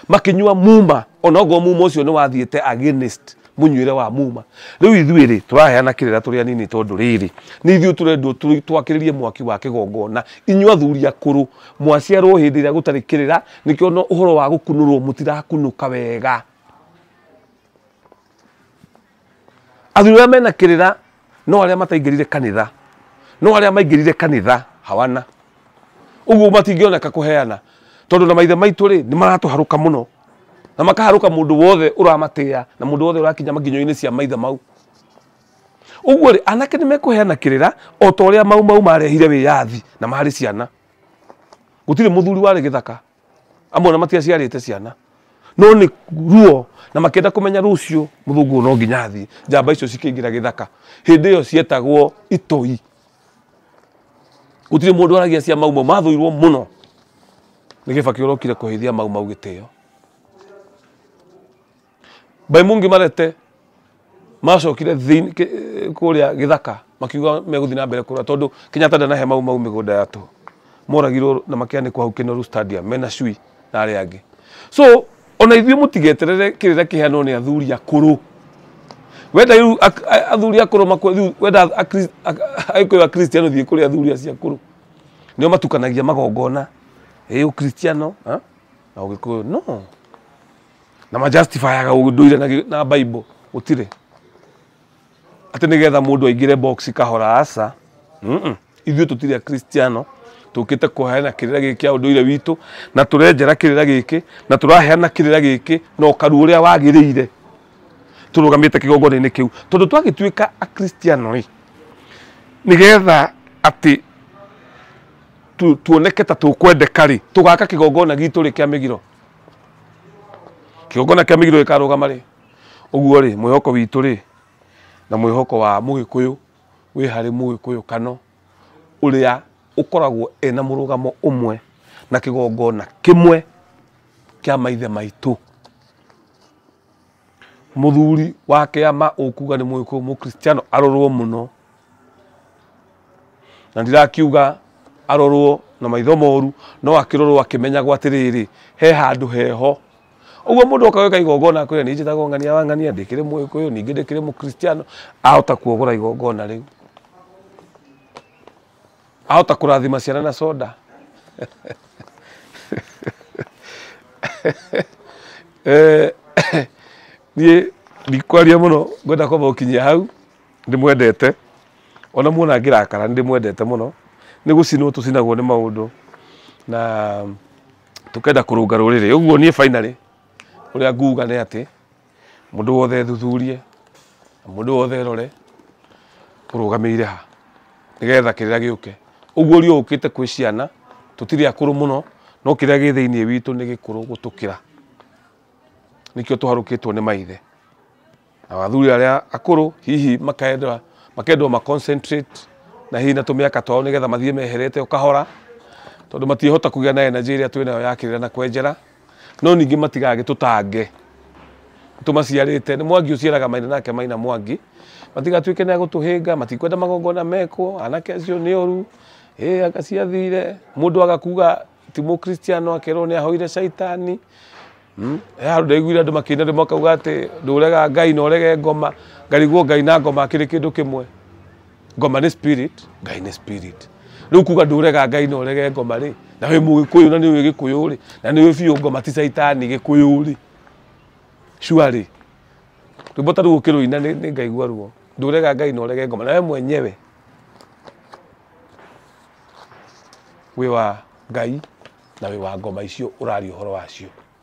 Speaker 1: makinyua muma onogo muma ucio ni wathiite against munyuire wa muma riu ithui ri turaheana kirira turi anini tondu riri ni ithui turendwo tu- twakiririe mwaki wa kigongona inyua athuri akuru mwaciarwo hindi iria gutari kirira nikio no uhoro wa gukunurwo mutirakunuka wega athuri arĩa mena kĩrĩra no arĩa mataingĩrire kanitha no arĩa maingĩrire kanitha hawana ũguo matingĩoneka kũheana tondũ na maithe maitũ rĩ nĩ maratũharũka mũno na makaharũka mũndũ wothe ũramatĩa na mũndũ wothe ũrakinya makinyo-inĩ cia maithe mau ũguo rĩ anake nĩ mekũheana kĩrĩra o ta ũrĩa mau mau marehire wĩyathi na marĩ ciana gũtirĩ mũthuri warĩ gĩthaka amwe ona matiaciarĩte ciana no nĩ ruo na makĩenda kũmenya rũciũ mũthũngũ no nginya athiĩ njamba icio cikĩingĩra gĩthaka hĩndĩ ĩyo cietagwo itoi gũtirĩ mũndũ aragia cia mau mau mathũirwo mũno nĩ gĩbakĩ ũrokire kũhĩithia mau mau gĩtĩo By Mungi Marete macokire thĩinĩ kĩ- kũrĩa gĩthaka makiuga megũthiĩ na mbere kũrũa tondũ Kenyatta ndanahe Mau Mau mĩgũnda ya tũhũ. Moragirwo na makĩanĩkwo hau Kinoru Stadium mena cui na arĩa angĩ. So ona ithuĩ mũtigeterere kĩrĩra kĩheanwo nĩ athuri akũrũ. Wenda rĩu ak- a- athuri akũrũ makwe rĩu wenda Akri- a- Agĩkũyũ Akristiano thiĩ kũrĩ athuri acio akũrũ. Nĩo matukanagia magongona, ĩ Ũkristiano ha, na Ũgĩkũyũ. No! na ma justifiaga ũndũire na gĩ- na bible gũtirĩ atĩ nĩgetha mũndũ aingĩre box kahora aca Mm-mm. ithuĩ tũtirĩ akristiano tũkĩte kũheana kĩrĩra gĩkĩ kĩa ũndũire witũ na tũrenjera kĩrĩra gĩkĩ na tũraheana kĩrĩra gĩkĩ na ũkaru ũrĩa wagĩrĩire tũrũgamĩte kĩgongona-inĩ kĩu tondũ twagĩtuĩka akristiano rĩ nĩgetha atĩ tu- tuoneke ta tũkwendeka rĩ tũgaka kĩgongona gitũ rĩ kĩa mĩgiro kĩgongona kĩa mĩgiro gĩkarũgama rĩ ũguo rĩ mwĩhoko witũ rĩ na mwĩhoko wa mũgĩkũyũ wĩ harĩ mũgĩkũyũ kano ũrĩa ũkoragwo ena mũrũgamo ũmwe na kĩgongona kĩmwe kĩa maithe maitũ Mũthuri wa kĩama ũkuga nĩ mũgĩkũyũ mũkristiano arorwo mũno na ndirakiuga arorwo na maitho moru no akĩrorwo akĩmenyagwo atĩrĩrĩ he handũ heho ũguo mũndũ oka gwĩka igongona kwĩra nĩ njĩtagwo ng'ania wa ng'ania ndĩkĩrĩ mũgĩkũyũ ningĩ ndĩkĩrĩ mũkristiano ahota kuogora igongona rĩu Ahota kũrathima ciana na soda. Eh, niĩ ndikwaria mũno ngwenda kwamba gũkinyia hau ndĩmwendete ona muona ngĩrakara ndĩmwendete mũno nĩ gũcinwo tũcinagwo nĩ maũndũ na tũkenda kũrũnga rũrĩrĩ ũguo niĩ finally ũrĩa nguga nĩ atĩ Mũndũ wothe ethuthurie, na mũndũ wothe erore, tũrũgamĩire ha, nĩgetha kĩrĩa gĩũke. Ũguo ũria ũkĩte kwĩ ciana, tũtirĩ akũrũ mũno, no kĩrĩa gĩ thĩiniĩ witũ nĩ gĩkũrũ gũtũkĩra. Nĩkĩo tũharũkĩtwo nĩ maithe. Nao athuri arĩa akũrũ, hihi makenda, makendwo ma concentrate na hihi na tũmĩaka twao nĩgetha mathiĩ meherete o kahora, tondũ matiĩhota kũgĩa na energy ĩrĩa twĩ nayo ya kĩrĩra na kwenjera. No ningĩ matigagĩtũtange. Nĩtũmaciarĩte. Nĩ Mwangi ũciaraga Maina nake Maina Mwangi. Matigatuĩke nĩ a gũtũhĩnga, matikwenda magongona mekwo, anake acio nĩ oru, ĩ anga ciathire, mũndũ aga kuga ti mũkristiano akerwo nĩ ahoire caitani. Hmm? He handũ ndaiguire andũ makĩina rĩmwe makauga atĩ ndũrega Ngai na ũrege ngoma, ngarigwo Ngai na ngoma akĩrĩ kĩndũ kĩmwe. ngoma nĩ spirit ngai nĩ spirit rĩu kuga ndũrega ngai na ũrege ngoma rĩ na wĩ mũgĩkũyũ na nĩ ũĩ gĩkũyũ rĩ na nĩ ũĩ biũ ngoma ti caitani gĩkũyũ rĩ cua rĩ rwĩmbo ta rũu ũkĩrũina nĩ nĩ ngaigua ruo ndũrega ngai na ũrege ngoma na we mwenyewe wĩ wa ngai na wĩ wa ngoma icio ũraria ũhoro wacio